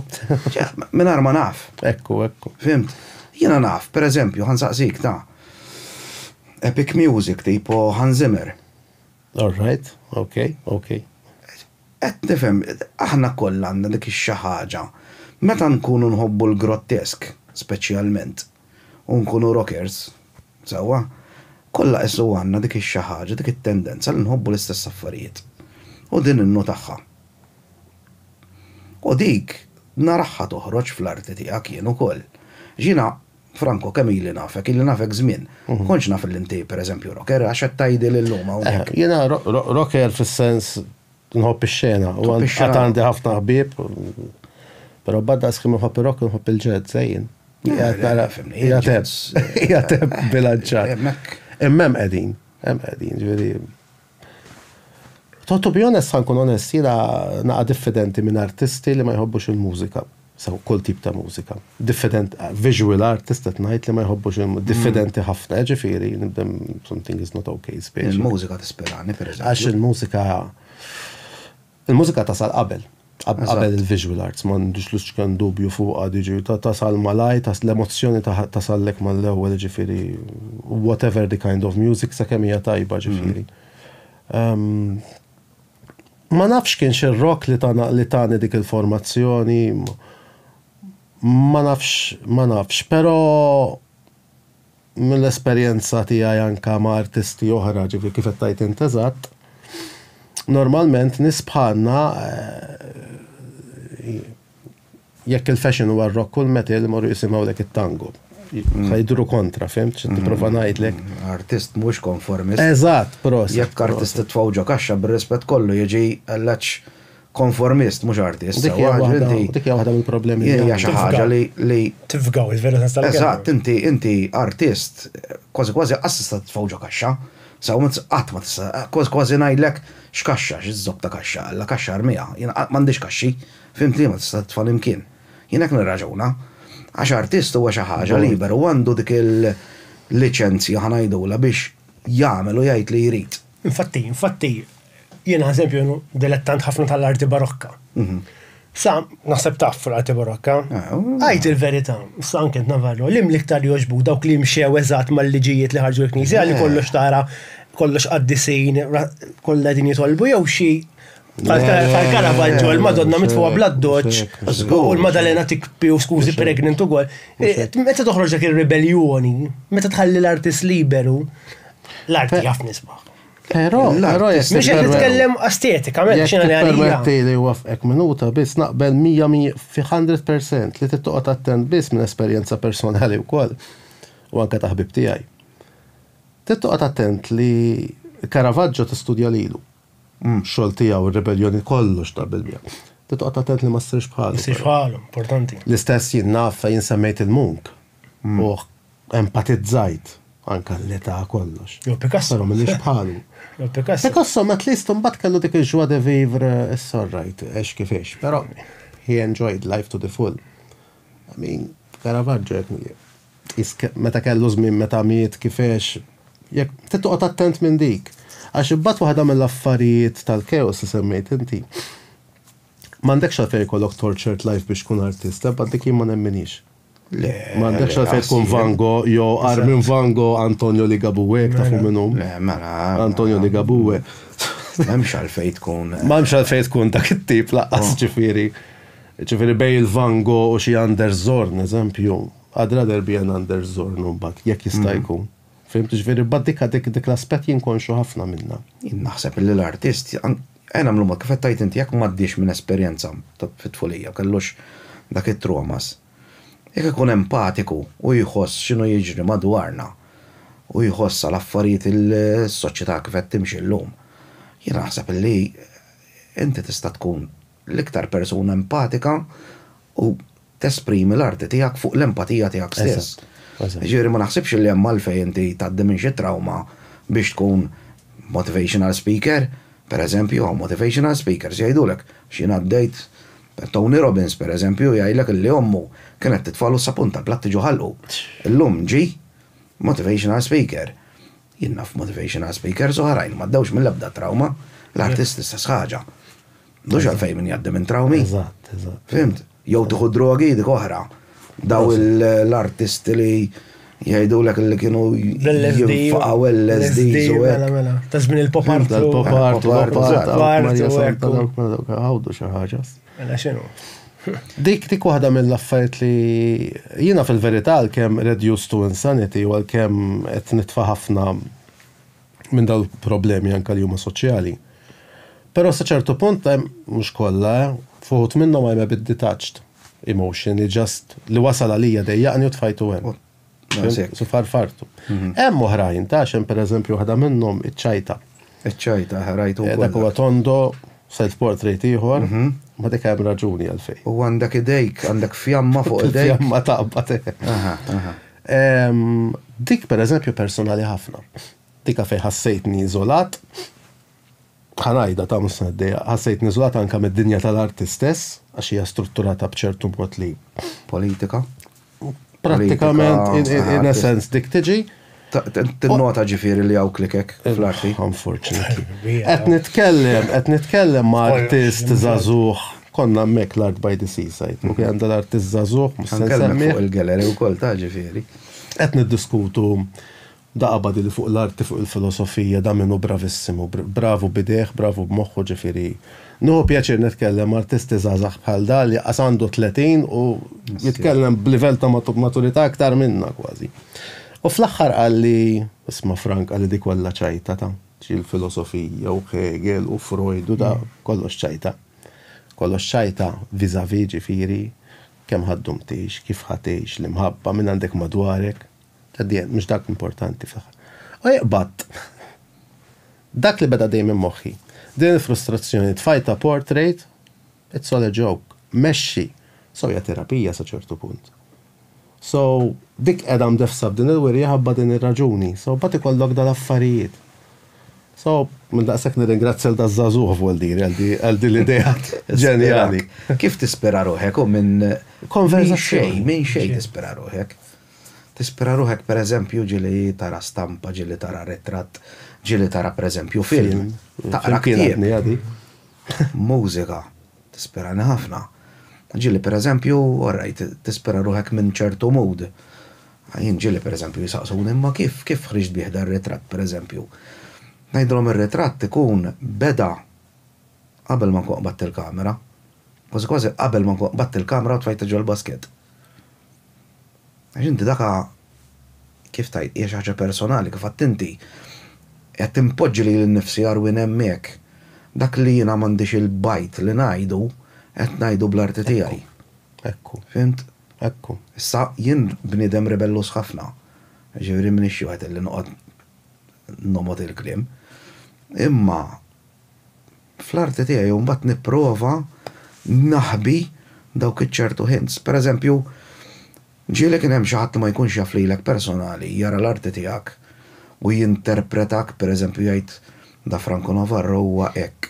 Mingħajr ma naf. Ekku, ekku. Fimt? Jiena naf, per eżempju, ħansaqsik ta' epic music tipo Hans Zimmer. All right, ok, ok. Qed nifhem, aħna kollha għandna dik ix-xi ħaġa. Meta nkunu nħobbu l-grottesk, speċjalment. u nkunu rockers, sewwa, kollha qissu għandna dik ix-xi ħaġa, dik it-tendenza li nħobbu l-istess affarijiet. U din innotahha. U dik narahha toħroġ fl-arti tiegħek jien ukoll. Għax jiena, Franco, kemm ili nafek, ili nafek żmien, ma kontx naf li inti, pereżempju, rocker, għax qed tgħidili llum hawnhekk. Jiena rocker fis-sens Nħobb ix-xena, u għad għandi ħafna ħbieb, però badda skim nħobb ir-rock nħobb il-ġed, sejjin. Jgħateb, jgħateb bilanċat. Immem qegħdin, hemm qegħdin, ġifieri. To be honest, ħankun onest, jiena naqa' diffidenti minn artisti li ma jħobbux il-mużika. sew kull tip ta' mużika. Diffident, visual art tista' tngħid li ma jħobbux il diffidenti ħafna, ġifieri nibdem something is not okay speċi. Il-mużika tispirani pereżempju. Għax il-mużika il-mużika tasal qabel. Qabel il-visual arts, ma għandux lux kan dubju fuqha diġi tasal malaj, tas l-emozzjoni tasallek mal-ewwel ġifieri whatever the kind of music sakemm hija tajba ġifieri. Ma nafx kienx ir-rock li tana li tani dik il-formazzjoni ma nafx ma nafx pero mill-esperjenza tiegħi anka ma' artisti oħra ġifieri kif qed tgħid int eżatt normalment nies bħalna Jekk il-fashion huwa r-rock kull meta li morru jisimgħulek it-tango. Ħa jidhru kontra, fhimt? Xi tipprova ngħidlek. Artist mhux konformist. Eżatt, proset. Jekk artist titfgħu ġo kaxxa bir-rispett kollu jiġi għall-għatx konformist mhux artist. Dik hija waħda, dik hija waħda mill-problemi. Hija xi ħaġa li li. Tifgaw, il-veru sens tal-kelma. Eżatt, inti inti artist kważi kważi qatt tista' titfgħu ġo kaxxa. Sew ma tista' qatt ma tista' kważi kważi ngħidlek x'kaxxa, x'żopp ta' kaxxa, alla kaxxa armiha. Jien qatt m'għandix kaxxi. Fhimt liema tista' titfa' l-imkien. Jien hekk nirraġuna. Għax artist huwa xi ħaġa liber u għandu dik il-liċenzja, ħa ngħidulha, biex jagħmel u jgħid li jrid. Infatti, infatti, jiena eżempju dilettant ħafna tal-arti barokka. Sa, naħseb taf fl-arti barokka. Għid il-verità, sa anke int Navarro, li mill-iktar jogħġbuk dawk li mxew eżatt mal-liġijiet li ħarġu l-Knisja li kollox tara kollox qaddisin kollha qegħdin jitolbu jew xi Għal-Karavaggio, il-Madonna mitfuqa bladdoċ, u l-Madalena tikpi u skużi pregnant u għol. Eh, meta toħroġ dak il-rebellioni, meta tħalli l-artist liberu, l-arti jaf nisbaħ. Pero, pero jess. Mux jek nitkellem estetika, men, xina li għalija. Permetti li wafqek minuta bis naqbel 100 fi 100% li t-toqot attent bis minn esperienza personali u koll u anka taħbib tijaj. T-toqot attent li Caravaggio t-studja lilu. Umm, xogħol tiegħu r-ribelljoni kollox ta' bil-miegħu. Trid toqgħod attent li ma ssirx bħalu. Ma ssirx bħalu, importanti. L-istess jien naf fejn insemmejt il-munk u empatizzajt, anke għall-età kollox. Jew Picasso. Però m'iniex bħalu. Jew Picasso. Picasso at least imbagħad kellu dik il-joie de vivre, it's all right, għex kif għex. Però he enjoyed life to the full. Min? Caravaggio jekk mhijiex. Tqis meta kellu żmien meta miet kifex jekk trid toqgħod attent minn dik. Għax imbagħad waħda mill-affarijiet tal-chaos li semmejt inti m'għandekx għalfejn ikollok tortured life biex tkun artist, ebba dik jien ma nemminhiex. Le. M'għandekx għalfejn tkun Van Gogh jew qar minn Van Gogh Antonio Ligabue jekk tafu min hu. Le, mela. Antonio Ligabue. M'hemmx għalfejn tkun. M'hemmx għalfejn tkun dak it-tip laqqas ġifieri. Jiġifieri bejn il-Van Gogh u xi Anders Zorn, eżempju, I'd rather be an Anders Zorn imbagħad, jekk jista' jkun. Fhimt? Jiġifieri bad dik dik l-aspett jien konxju ħafna minnha. Jien naħseb illi l-artist, ejja nagħmlu mod, kif qed tgħid inti, jekk m'għaddiex minn esperjenza fit-tfulija, kellux dak it-traumas, jekk ikun empatiku u jħoss x'inhu jiġri madwarna u jħoss għal affarijiet is-soċjetà kif qed timxi llum, jiena naħseb illi inti tista' tkun L-iktar persuna empatika u tesprimi l-arti tiegħek fuq l-empatija tiegħek stess. Jiġifieri ma naħsibx li hemm għalfejn inti tgħaddi minn xi trawma biex tkun motivational speaker, pereżempju hawn motivational speakers jgħidulek għax jien għaddejt Tony Robbins pereżempju jgħidlek illi ommu kienet titfagħlu s-sapun tal-platti ġo ħalqu. Illum ġie motivational speaker. Jien naf motivational speakers oħrajn li m'għaddewx mill-ebda trawma. L-artist l-istess ħaġa. M'għandux għalfejn min jgħaddi minn trawmi. Eżatt, eżatt. Fhimt? Jew tieħu d-drogi dik oħra. Daw l-artisti li jgħidulek li kienu jinfaqgħu l-LSDs u hekk. Mela, mela. Ta' żmien il-pop art. Tal-pop art, tal-pop art. Għawdu xi ħaġa. Mela xinu? Dik dik waħda mill-affarijiet li jiena fil-verità għalkemm reduced to insanity u għalkemm qed nitfa' ħafna minn dawn il-problemi anke li huma soċjali. Però sa ċertu punt hemm mhux kollha, eh, f'uħud minnhom I'm a bit detached emotionally, just li wasal għalija dejjaqni u tfajtu hemm. Su farfartu. Mhm. Hemm oħrajn ta' xem per eżempju waħda minnhom iċ-ċajta. Iċ-ċajta ħarajtu. Eh, dak huwa tondo self portrait ieħor, mhm. ma dik hemm raġuni għalfej. U għandek idejk, għandek fjamma fuq idejk. Fjamma taqbad. Dik per eżempju personali ħafna. Dika fej ħassejtni iżolat, Ħa ngħidha, ta' mhux se niddejjaq, ħassejtni iżolat anke mid-dinja tal-arti stess, għax hija strutturata b'ċertu mod li. Politika. Prattikament, in a sense, dik tiġi. Tinnota ġifieri li hawn klikek fl-arti. Unfortunately. Qed nitkellem, qed nitkellem ma' artist żagħżugħ, konna hemmhekk l-Art by the Seaside, u kien għandha l-artist żagħżugħ, mhux se nsemmih. Ħa nkellmek fuq il-gallery wkoll ta' ġifieri. Qed niddiskutu Da qabadi li fuq l-arti fuq il-filosofija da minnu bravissimu, bravu b'idejh, bravu b'moħħu ġifieri nieħu pjaċir nitkellem m'artisti żgħażagħ bħal da li qas għandu tletin u jitkellem b'livell ta' maturità aktar minna kważi. U fl-aħħar qalli, isma' Frank qalli di kollha ċajta ta' xi l-filosofija u Hegel u Freud u da kollox ċajta. Kollox ċajta vis-a-vis ġifieri kemm ħa ddum tgħix, kif ħa tgħix, l-imħabba, min għandek madwarek, At the end, mhux dak l-importanti fl-aħħar. U iqbadt! Dak li beda dejjem minn moħħi. Din il-frustrazzjoni tfajtha portrait, it's all a joke. Mexxi! So hija terapija sa ċertu punt. So, dik qiegħda mdefsa b'din il-wirja ħabba din ir-raġuni. So, mbagħad ikollok dal-affarijiet. So, minn daqshekk nirringrazzja lil daż-żagħżugħ vwoldir għal din l-idea ġenjali. Kif tispira ruħek u minn konverżazzjoni? Minn xejn tispira ruħek. Tispira ruħek pereżempju ġieli tara stampa, ġieli tara ritratt, ġieli tara pereżempju film, taqra ktieb, mużika, tispirani ħafna. Ġieli pereżempju, orajt, tispira ruħek minn ċertu mood. Jien ġieli pereżempju jsaqsuni imma kif, kif ħriġt bih dan ritratt pereżempju? Ngħidilhom ir-ritratt ikun beda qabel ma nkun qbadt il-kamera. Kważi kważi qabel ma nkun qbadt il-kamra u tfajtha ġol-basket. Għax inti dak kif tgħid, hija xi ħaġa personali, kif għedt inti. Qed inpoġġi lili nnifsi Arwin hemmhekk. Dak li jiena m'għandix il-bajt li ngħidu, qed ngħidu bl-arti tiegħi. Ekku. Fhimt? Ekku. Issa, jien bniedem rebelluż ħafna. Jiġifieri m'iniex xi wieħed illi noqgħod nogħmod il-kliem. Imma. fl-arti tiegħi u mbagħad nipprova naħbi dawk iċ-ċertu hints. Per eżempju, ġieli kien hemm xi ħadd li ma jkunx jaf lilek personali jara l-arti tiegħek u jinterpretak per eżempju jgħid Da Franco Navarro huwa hekk.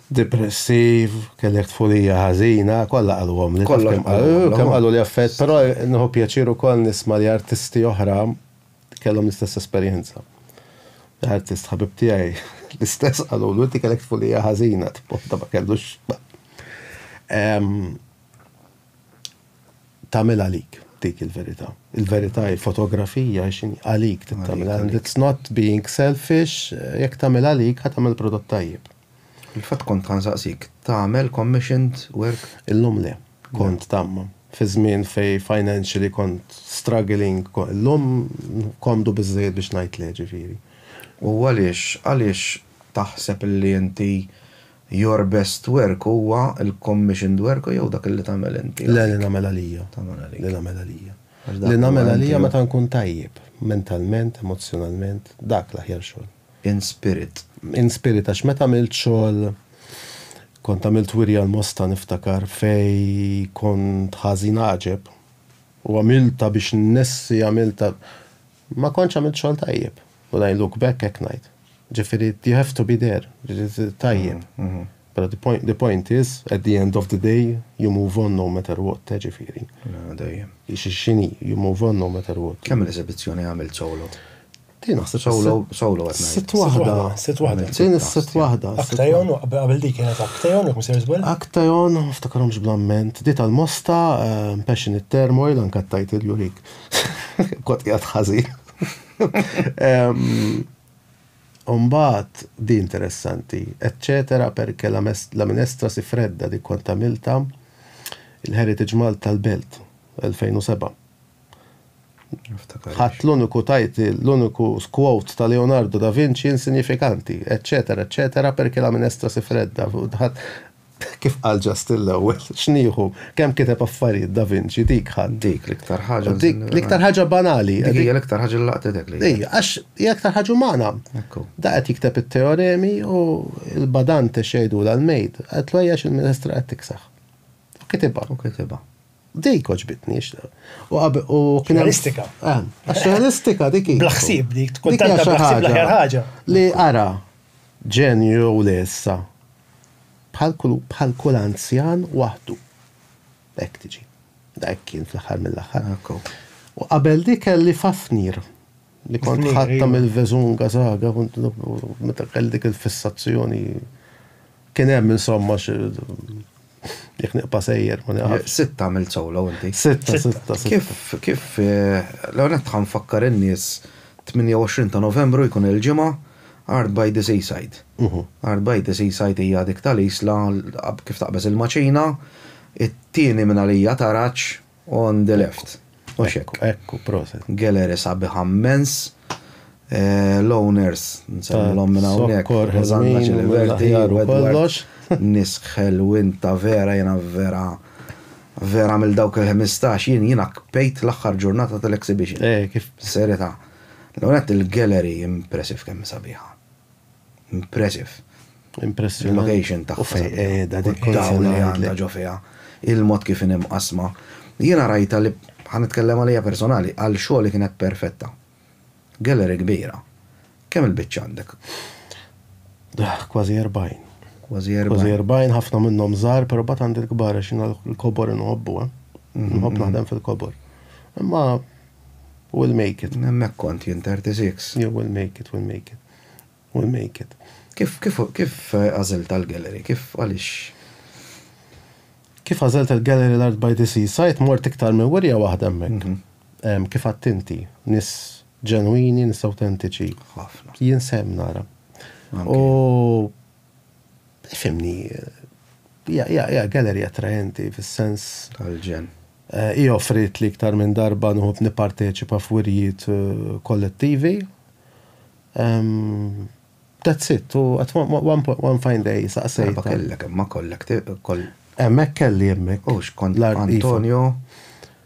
Depressiv, kellek tfulija ħażina, kollha qaluhomli. Kollox qalulhom. Kemm qaluli affarijiet, però nieħu pjaċir ukoll nisma' li artisti oħra kellhom l-istess esperjenza. Artist ħabib tiegħi l-istess qalu l inti kellek tfulija ħażina, tpotta ma kellux. Tamil għalik dik il-verità. Il-verità il-fotografija xin għalik tagħmel. It's not being selfish, jekk tagħmel għalik ħatamel prodott tajjeb. Fil-fatt kont ħa nsaqsik, tagħmel commissioned work? Illum le. Kont tagħmel. Fi żmien fejn financially kont struggling, illum komdu biżżejjed biex ngħid le, ġifieri. U għaliex, għaliex taħseb li inti your best work huwa l-commissioned work jew dak li tagħmel inti? Le, li nagħmel għalija. Tagħmel għalik. Li nagħmel għalija. Li nagħmel għalija meta nkun tajjeb, mentalment, emozzjonalment, dak l-aħjar xogħol. In spirit. In spirit għax meta għamilt xogħol kont għamilt wirja l-Mosta niftakar fej kont ħażin għaġeb u għamilta biex nnessi għamilta ma kontx għamilt xogħol tajjeb. When I look back hekk ngħid. Ġifieri you have to be there. Tajjeb. Mm, mm. Pero the point, the point is, at the end of the day, you move on no matter what, eh, ġifiri. Dajjem. Xini, you move on no matter what. Kemm l-eżibizzjoni għamil solo? Din naħseb sawlu sawlu qed ngħid. Sitt waħda. Sitt waħda. Din is-sitt waħda. Aktajon qabel dik kienet Aktajon jekk msejr żball. Aktajon ftakarhomx bl-amment. Di tal-mosta, eh, passion it turmoil anke tajt il-lurik. Kont qiegħed ħażin. Umbat, di interessanti, eccetera, perché la, la minestra si fredda di quanta milta il-Heritage Malta tal-Belt 2007. Ħadd l-uniku title, l-uniku quote ta' Leonardo da Vinci insinjifikanti, eċċetera, eċċetera, perché la minestra si fredda. Kif qal Justin l-ewwel, x'nieħu, kemm kiteb affarijiet da Vinci, dik ħadd. Dik l-iktar ħaġa. Dik l-iktar ħaġa banali. Dik hija l-iktar ħaġa li laqtetek lejh. Ejja, għax hija l-iktar ħaġa umana. Ekku. Da qed jikteb it-teoremi u l-badante x'jgħidulha l-maid, qaltlu ejja għax il-minestra qed tiksaħ. U kitibha. U kitibha. Dik oġbitni xna. U kien Realistika. Eh, għax realistika dik. Blaħsib dik, tkun tanta blaħsib l-aħjar ħaġa. Li ara, ġenju u lessa. Bħal kull anzjan waħdu. Ek tiġi. Dak kien fl-aħħar mill-aħħar. U qabel dik kelli fafnir li kont ħatta mill-vezunga zaga, meta kelli dik il-fissazzjoni Kien hemm insomma jekk niqpa sejjer ma naqaf. Sitta għamilt solo inti. Sitta, sitta. Kif, kif, l-għonet tħan fakkar in-nies 28 ta' Novembru jkun il-ġimgħa Art by the Seaside. Art by the Seaside hija dik tal-Isla kif taqbeż il-Maċina, it-tieni minn għalija Taraġ, On the left. Mhux hekk. Ekku, proset. Gallery sabiħa mmens. L-owners, nsemmilhom minn hawnhekk. Rosanna Ciliberti, Edward. Nies ħelwin ta' vera, jiena vera, vera mill dawk il-ħmistax, jien jiena kpejt l-aħħar ġurnata tal-exhibition. Serjetà. L-ewwel nett il-gallery impressive kemm hi sabiħa. Impressive. Impressive. Il-location ta' fejn qiegħda dik dawl li għandha ġo fiha. Il-mod kif inhi mqassma. Jiena rajtha li ħa nitkellem għalija personali, għal xogħli kienet perfetta. Gallery kbira. Kemm il-biċċa għandek? Kważi erbgħin. Kważi erbgħin. Kważi erbgħin, ħafna minnhom żgħar, però mbagħad għandi l-kbar għax jiena l-kobor inħobbu, eh. Nħobb naħdem fil-kobor. Imma We'll make it. Hemmhekk kont jien, 36. Jew we'll make it, we'll make it, we'll make it. Kif, kif, kif għażilt għall-gallery? Kif, għaliex? Kif għażilt il-gallery l-art by the seaside? Mort iktar minn wirja waħda hemmhekk. Kif għedt inti, nies ġenwini, nies awtentiċi. Ħafna. Jien sehem nara. U. Fimni, hija gallery attraenti fis-sens. Tal-ġenn. Hi offrietli iktar minn darba noqgħod nipparteċipa f'wirjiet kollettivi. That's it, u at one fine day saqsejtha. Darba kellek imma kollek. Hemmhekk kelli hemmhekk. U x'kont Antonio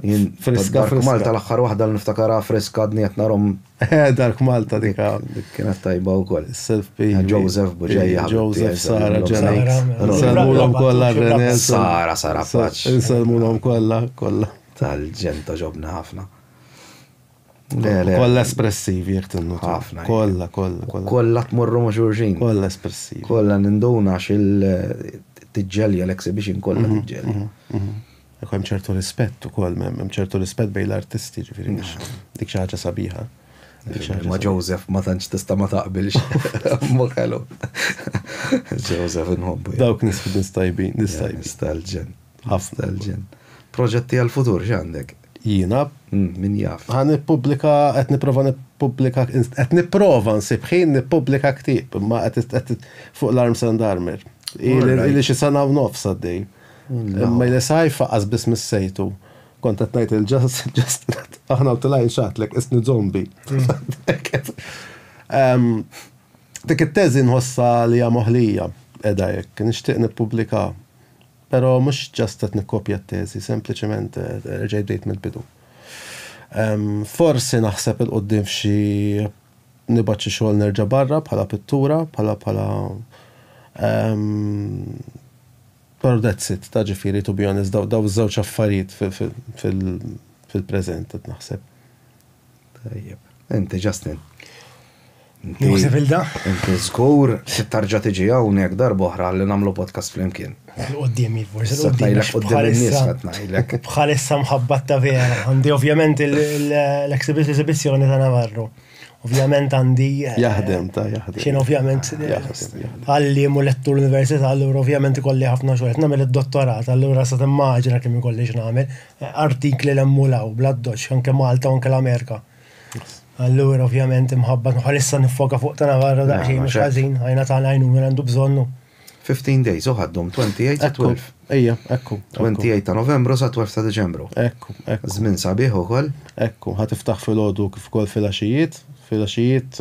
Jien friska friska. Dark Malta l-aħħar waħda li niftakarha friska għadni qed narhom. Dark Malta dik dik kienet tajba wkoll. Self P. Joseph Buġeja. Joseph Sara Ġenek. Insellmulhom kollha Renel. Sara Sara Paċ. Insellmulhom kollha kollha. Tal-ġenta ġobna ħafna. Kolla espressivi jek tinnu. Ħafna. Kolla, kolla, kolla. Kolla tmorru ma' xurxin. Kolla espressivi. Kolla ninduna xil tiġġelja l-exhibition kolla tiġġelja. Ekku hemm ċertu rispett ukoll, hemm ċertu rispett bejn l-artisti, ġifieri dik xi ħaġa sabiħa. Ma Joseph ma tantx tista' ma taqbilx. Mu kellu. Joseph inħobbu. Dawk nisfidis tajbin, nistajbin. Stalġen. Ħafna l-ġen. Proġetti għal-futur x'għandek? Jiena. Min jaf. Ħa nippubblika, qed nipprova nippubblika, qed nipprova nsib ħin nippubblika ktieb, imma qed fuq l-Arms and Armor. Ili xi sena u nofs għaddej. Imma li sajfa qas biss missejtu. Kont qed ngħid il-ġast, ġast, aħna u tilajn xatlek, isni zombi. Dik it-teżi nħossa li hija moħlija, edha jekk, nixtieq nippubblika. Però mhux just qed nikkopja t-teżi, sempliċement erġajt bdejt mill-bidu. Forsi naħseb 'il quddiem f'xi nibgħat xi xogħol nerġa' barra bħala pittura, bħala bħala Però that's it, ta' ġifieri to be honest, dawn iż-żewġ affarijiet fil-preżent qed naħseb. Tajjeb. Inti Justin. Nieħu sivilda? Inti żgur tarġa' tiġi hawnhekk darba oħra li nagħmlu podcast flimkien. Qudiem forsi qudiem Bħalissa mħabbat ta' vera. Għandi ovvjament l-eksibizzjoni ta' Navarro. Ovvjament għandi. Eh, jaħdem ta' jaħdem. Xien ovvjament għallim u lettur l-università, allura ovvjament ikolli ħafna xogħol. Nagħmel id-dottorat, allura sa timmaġina kemm ikolli x'nagħmel. artikli li hemm u 'l hawn, bl-addoċċ, anke Malta u anke l-Amerika. Allura ovvjament imħabba bħalissa niffoka fuq ta' Navarra daqsxejn mhux ħażin, ħajna tagħna għajnuna li għandu bżonnu. 15 days u ħaddhom 28 sa 12. Ejja, ekku. 28 ta' Novembru sa 12 ta' Diċembru. Ekku, ekku. Żmien sabiħ ukoll. Ekku, ħa tiftaħ filgħodu kif ukoll filgħaxijiet. Filgħaxijiet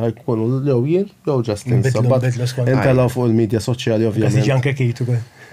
ħajkunu jew jien jew Justin Sabat. Intelgħu fuq il-midja soċjali ovvjament. Ħa tiġi anke Kate ukoll.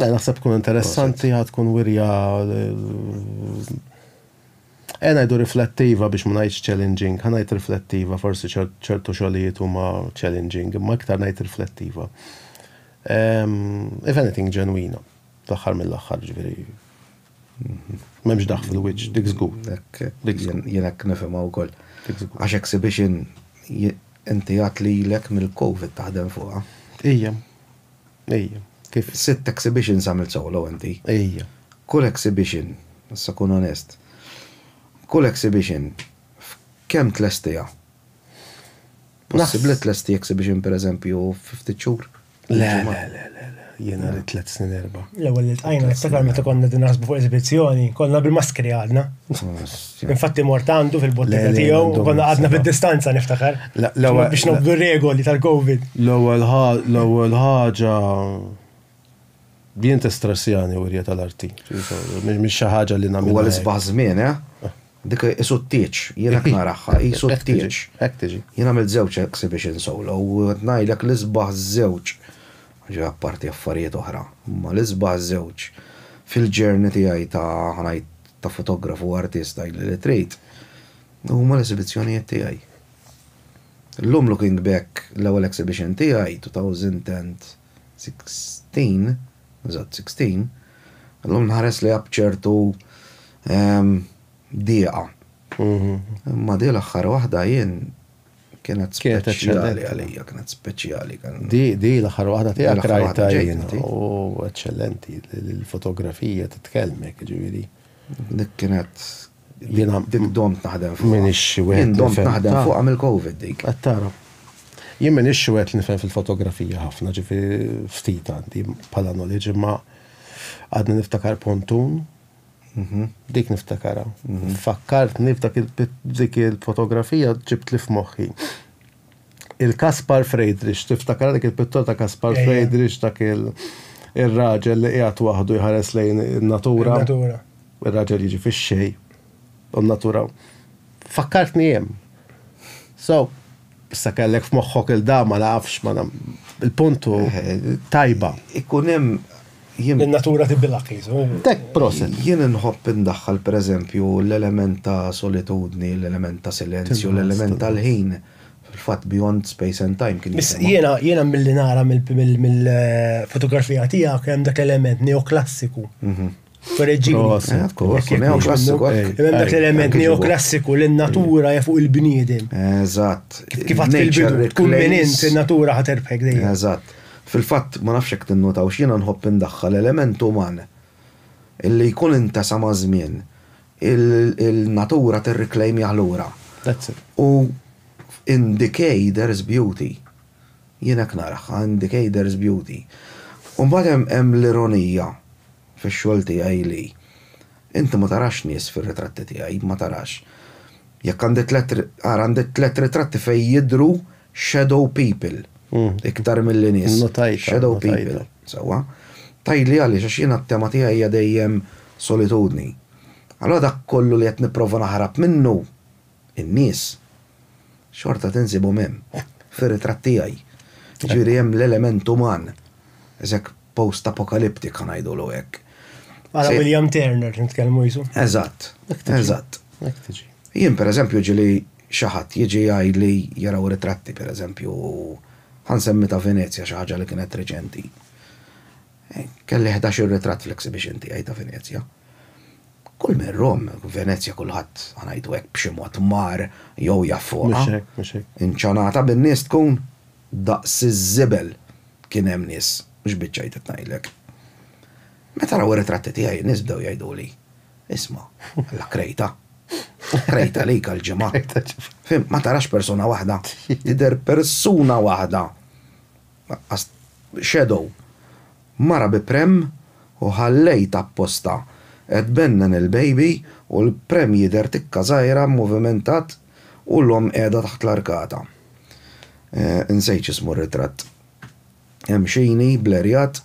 Eh, naħseb tkun interessanti għad tkun wirja Ena eh, jdu riflettiva biex ma ngħidx challenging, ħa ngħid riflettiva, forsi ċertu xogħlijiet huma challenging, imma iktar ngħid riflettiva. If anything ġenwina, fl-aħħar mill-aħħar ġifieri. M'hemmx daħ fil-wiċċ, dik żgur. Jien hekk nifhimha wkoll. Għax exhibition inti għat li l mill-COVID taħdem fuqha. Ija. Ejja. Kif? Sitt exhibitions għamilt solo inti. Ejja. Kull exhibition, issa kun onest, kull exhibition f'kemm tlestiha? Possibbli tlesti exhibition pereżempju fi ftit xhur? Le, le, le, le, le. Jiena rrid tliet snin erba'. L-ewwel li ltqajna niftakar meta konna qegħdin naħsbu fuq l-eżibizzjoni, konna bil-maskri għadna. Infatti Morta għandu fil-bottega tiegħu, konna għadna fid-distanza niftakar. Biex nobdu regoli tal-Covid. L-ewwel ħaġa Din t-stressjani u rjeta l-arti. Mix ħaġa li namlu. Għal isbaħ żmien, eh? Dik isu t-tieċ, jena knaraħħa, isu t-tieċ. Ek tiġi. Jena għamil zewċ exhibition solo, u għetnajlek l-isbaħ zewċ. Ġa parti affarijiet oħra, ma l-isbaħ zewċ. Fil-ġerni tijaj ta' ħanajt ta' fotografu u artist għajli li trid, huma l-esibizzjonijiet tiegħi. Illum Looking Back, l-ewwel exhibition tiegħi, 2016, eżatt 16, illum nħares lejha b'ċertu dieqa. Imma di l-aħħar waħda jien Kienet speċjali għalija, kienet speċjali. Di, di l-aħħar waħda tiegħek rajta jien. U eċċellenti, l-fotografija titkellmek, ġifieri. Dik kienet jiena dik domt naħdem fuq. Min ixxi wieħed. Jien domt naħdem fuq għamil covid dik. Qed tara. Jien min ixxi wieħed nifhem fil-fotografija ħafna, ġifieri ftit għandi bħala knowledge imma għadni niftakar pontun Dik niftakarha. Fakkartni f'dak dik il-fotografija ġibtli f'moħħi. Il-Kaspar Friedrich, tiftakarha dik il-pittura ta' Kaspar Friedrich dak ir-raġel li qiegħed waħdu jħares lejn in-natura? In-natura. Ir-raġel jiġi fix-xejn u n-natura. Fakkartni hemm. So, Issa kellek f'moħħok il da ma nafx ma il-punt hu tajba. Ikun hemm jien. In-natura tibdilha qisu. Tek proset. Jien inħobb indaħħal pereżempju l-element ta' solitudni, l-element ta' silenzju, l-element tal-ħin. Fil-fatt Beyond Space and Time kien jisem. Jiena jiena milli nara mill-fotografija tiegħek hemm dak l-element neoklassiku. L-element neoklassiku li n-natura ja fuq il-bniedem. Eżatt. Kif għat il-bidu, tkun minn int il-natura ħat erbħek dejjem. Eżatt. Fil-fatt, ma nafx jek tinnotaw x'jiena nħobb indaħħal l-element uman illi jkun intesa ma' żmien il-natura tirriklejmjah lura. U in decay there is beauty. Jien hekk narah, għandi Kayder's Beauty. U mbagħad hemm hemm l-ironija fix-xogħol tiegħi li inti ma tarax nies fir-ritratti tiegħi, ma tarax. Jekk għandi tliet ri, ara għandi tliet ritratti fejn jidhru shadow people iktar milli nies. Notajtha, shadow people. Sewwa. Tgħidli għaliex, għax jiena t-tema tiegħi hija dejjem solitudni. Allura dak kollu li qed nipprova naħrab minnu. in-nies, xorta tinsibhom hemm, fir-ritratt tiegħi. Jiġifieri hemm l-element uman. Hekk post-apokaliptika ngħidulu hekk. Għala William Turner nitkellmu jisu. Eżatt, eżatt. Jien pereżempju ġili xi ħadd jiġi jgħidli jaraw ritratti pereżempju, ħa nsemmi ta' Venezja xi ħaġa li kienet reċenti. Kelli ħdax-il ritratt fl-exhibition tiegħi ta' Venezja. Kull min Rom, Venezja kulħadd, ħanajdu hekk, b'xi mod mar jew jaf fuqha. Mhux hekk, mhux hekk. Inċanata bin-nies tkun, daqs iż-żibel kien hemm nies, mhux biċċa jdiet ngħidlek. Meta raw ir-ritratti tiegħi n-nies bdew jgħiduli, Isma', alla krejta. Krejta għalik għall-ġimgħa. Krejta ġimgħa. Fhimt, ma tarax persuna waħda, tidher persuna waħda. Naqqast shadow. Mara bi prem u ħallejt apposta qed tbennen il-baby u l-prem jidher tikka żgħira mmovimentat u l-omm qiegħda taħt l-arkata. Insejt x'ismu r-ritratt. Hemm xini blerjat.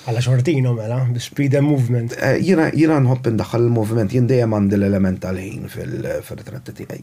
Alla xortina mela, bi speed and movement. Jiena nħobb indaħħal il-moviment, jien dejjem għandi l-element tal-ħin fir-ritratti tiegħi.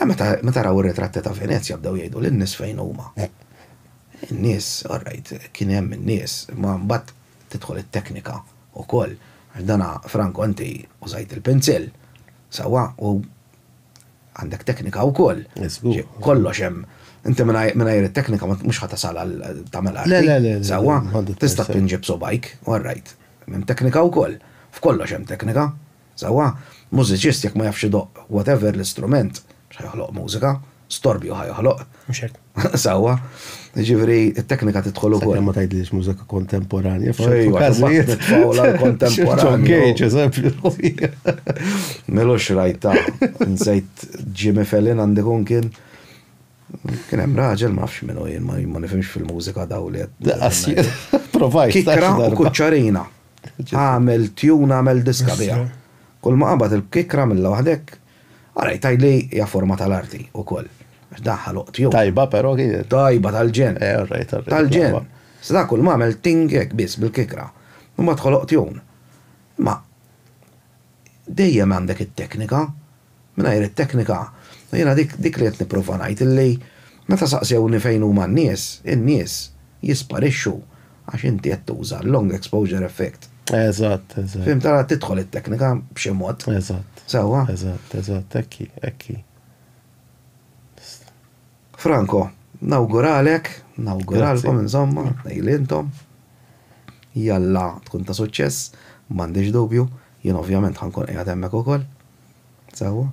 Eh, meta, meta raw ir-ritratti ta' Venezja bdew jgħidu lin-nies fejn huma. In-nies, all right, kien hemm in-nies, imma mbagħad tidħol it-teknika wkoll. Għax dana, Franco, inti użajt il-pinzill, sewwa, u għandek teknika wkoll. Eh, żgur. Xi, kollox hemm. Inti mingħaj- mingħajr it-teknika ma- mhux ħa tasal għal tagħmel arti. Le, le, le, le, Sewwa, m'għandek tista' tajsa. tpinġi b'subgħajk, all right. Hemm teknika wkoll. F'kollox hemm teknika. Sewwa, mużiċist jekk ma jafx idoqq whatever l-istrument, mhux ħa joħloq mużika, storbju ħa joħloq. Mhux hekk. Sewwa. Jiġifieri t-teknika tidħol ukoll. Sakemm ma tgħidlix mużika kontemporanja f'ċertu każijiet. F'Pawla l-kontemporanja. Ġej, eżempju. Milux rajta. Nsejt Jimmy Fallon għandi kun kien. Kien hemm raġel ma nafx minnu jien ma nifhimx fil-mużika daw li. Provajt. Kikra u kuċċarina. Għamel tune għamel diska biha. Kull ma qabad il-kikkra għamilha waħdek. Ara jtgħid li hija forma tal-arti wkoll. Għax dan ħaloq tune. Tajba però kienet. Tajba tal-ġenn. Eh all right all right. Tal-ġenn. Iżda dan kull ma għamel ting hekk biss bil-kikkra. Imbagħad ħoloq tune. Imma dejjem għandek it-teknika. Mingħajr it-teknika, jiena dik dik li qed nipprova ngħid illi meta saqsewni fejn huma n-nies, in-nies jisparixxu għax inti qed tuża l-long exposure effect. Eżatt, eżatt. Fhimt, allura tidħol it-teknika b'xi mod. Eżatt. Sewwa? Eżatt, eżatt, hekk hi, hekk hi. Franco, nawguralek, nawguralkom insomma, tnejli intom. Jalla tkun ta' suċċess, m'għandix dubju, jien ovvjament ħa nkun qiegħed hemmhekk ukoll. Sewwa.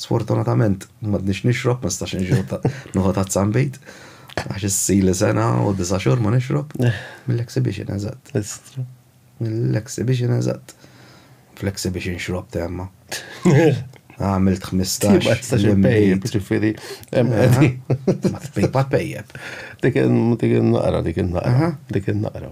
Sfortunatament m'għadniex nixrob, ma nistax nixrob noħu tazza nbid. Għax issili sena u disa' xhur ma nixrob. Mill-exhibition eżatt. Mill-exhibition eżatt. Fl-exhibition xrob temma. Għamilt 15. Ma tistax il-pejjeb, ġifiri. Ma tpejjeb. Dik il-naqra, dik il-naqra. Dik il-naqra.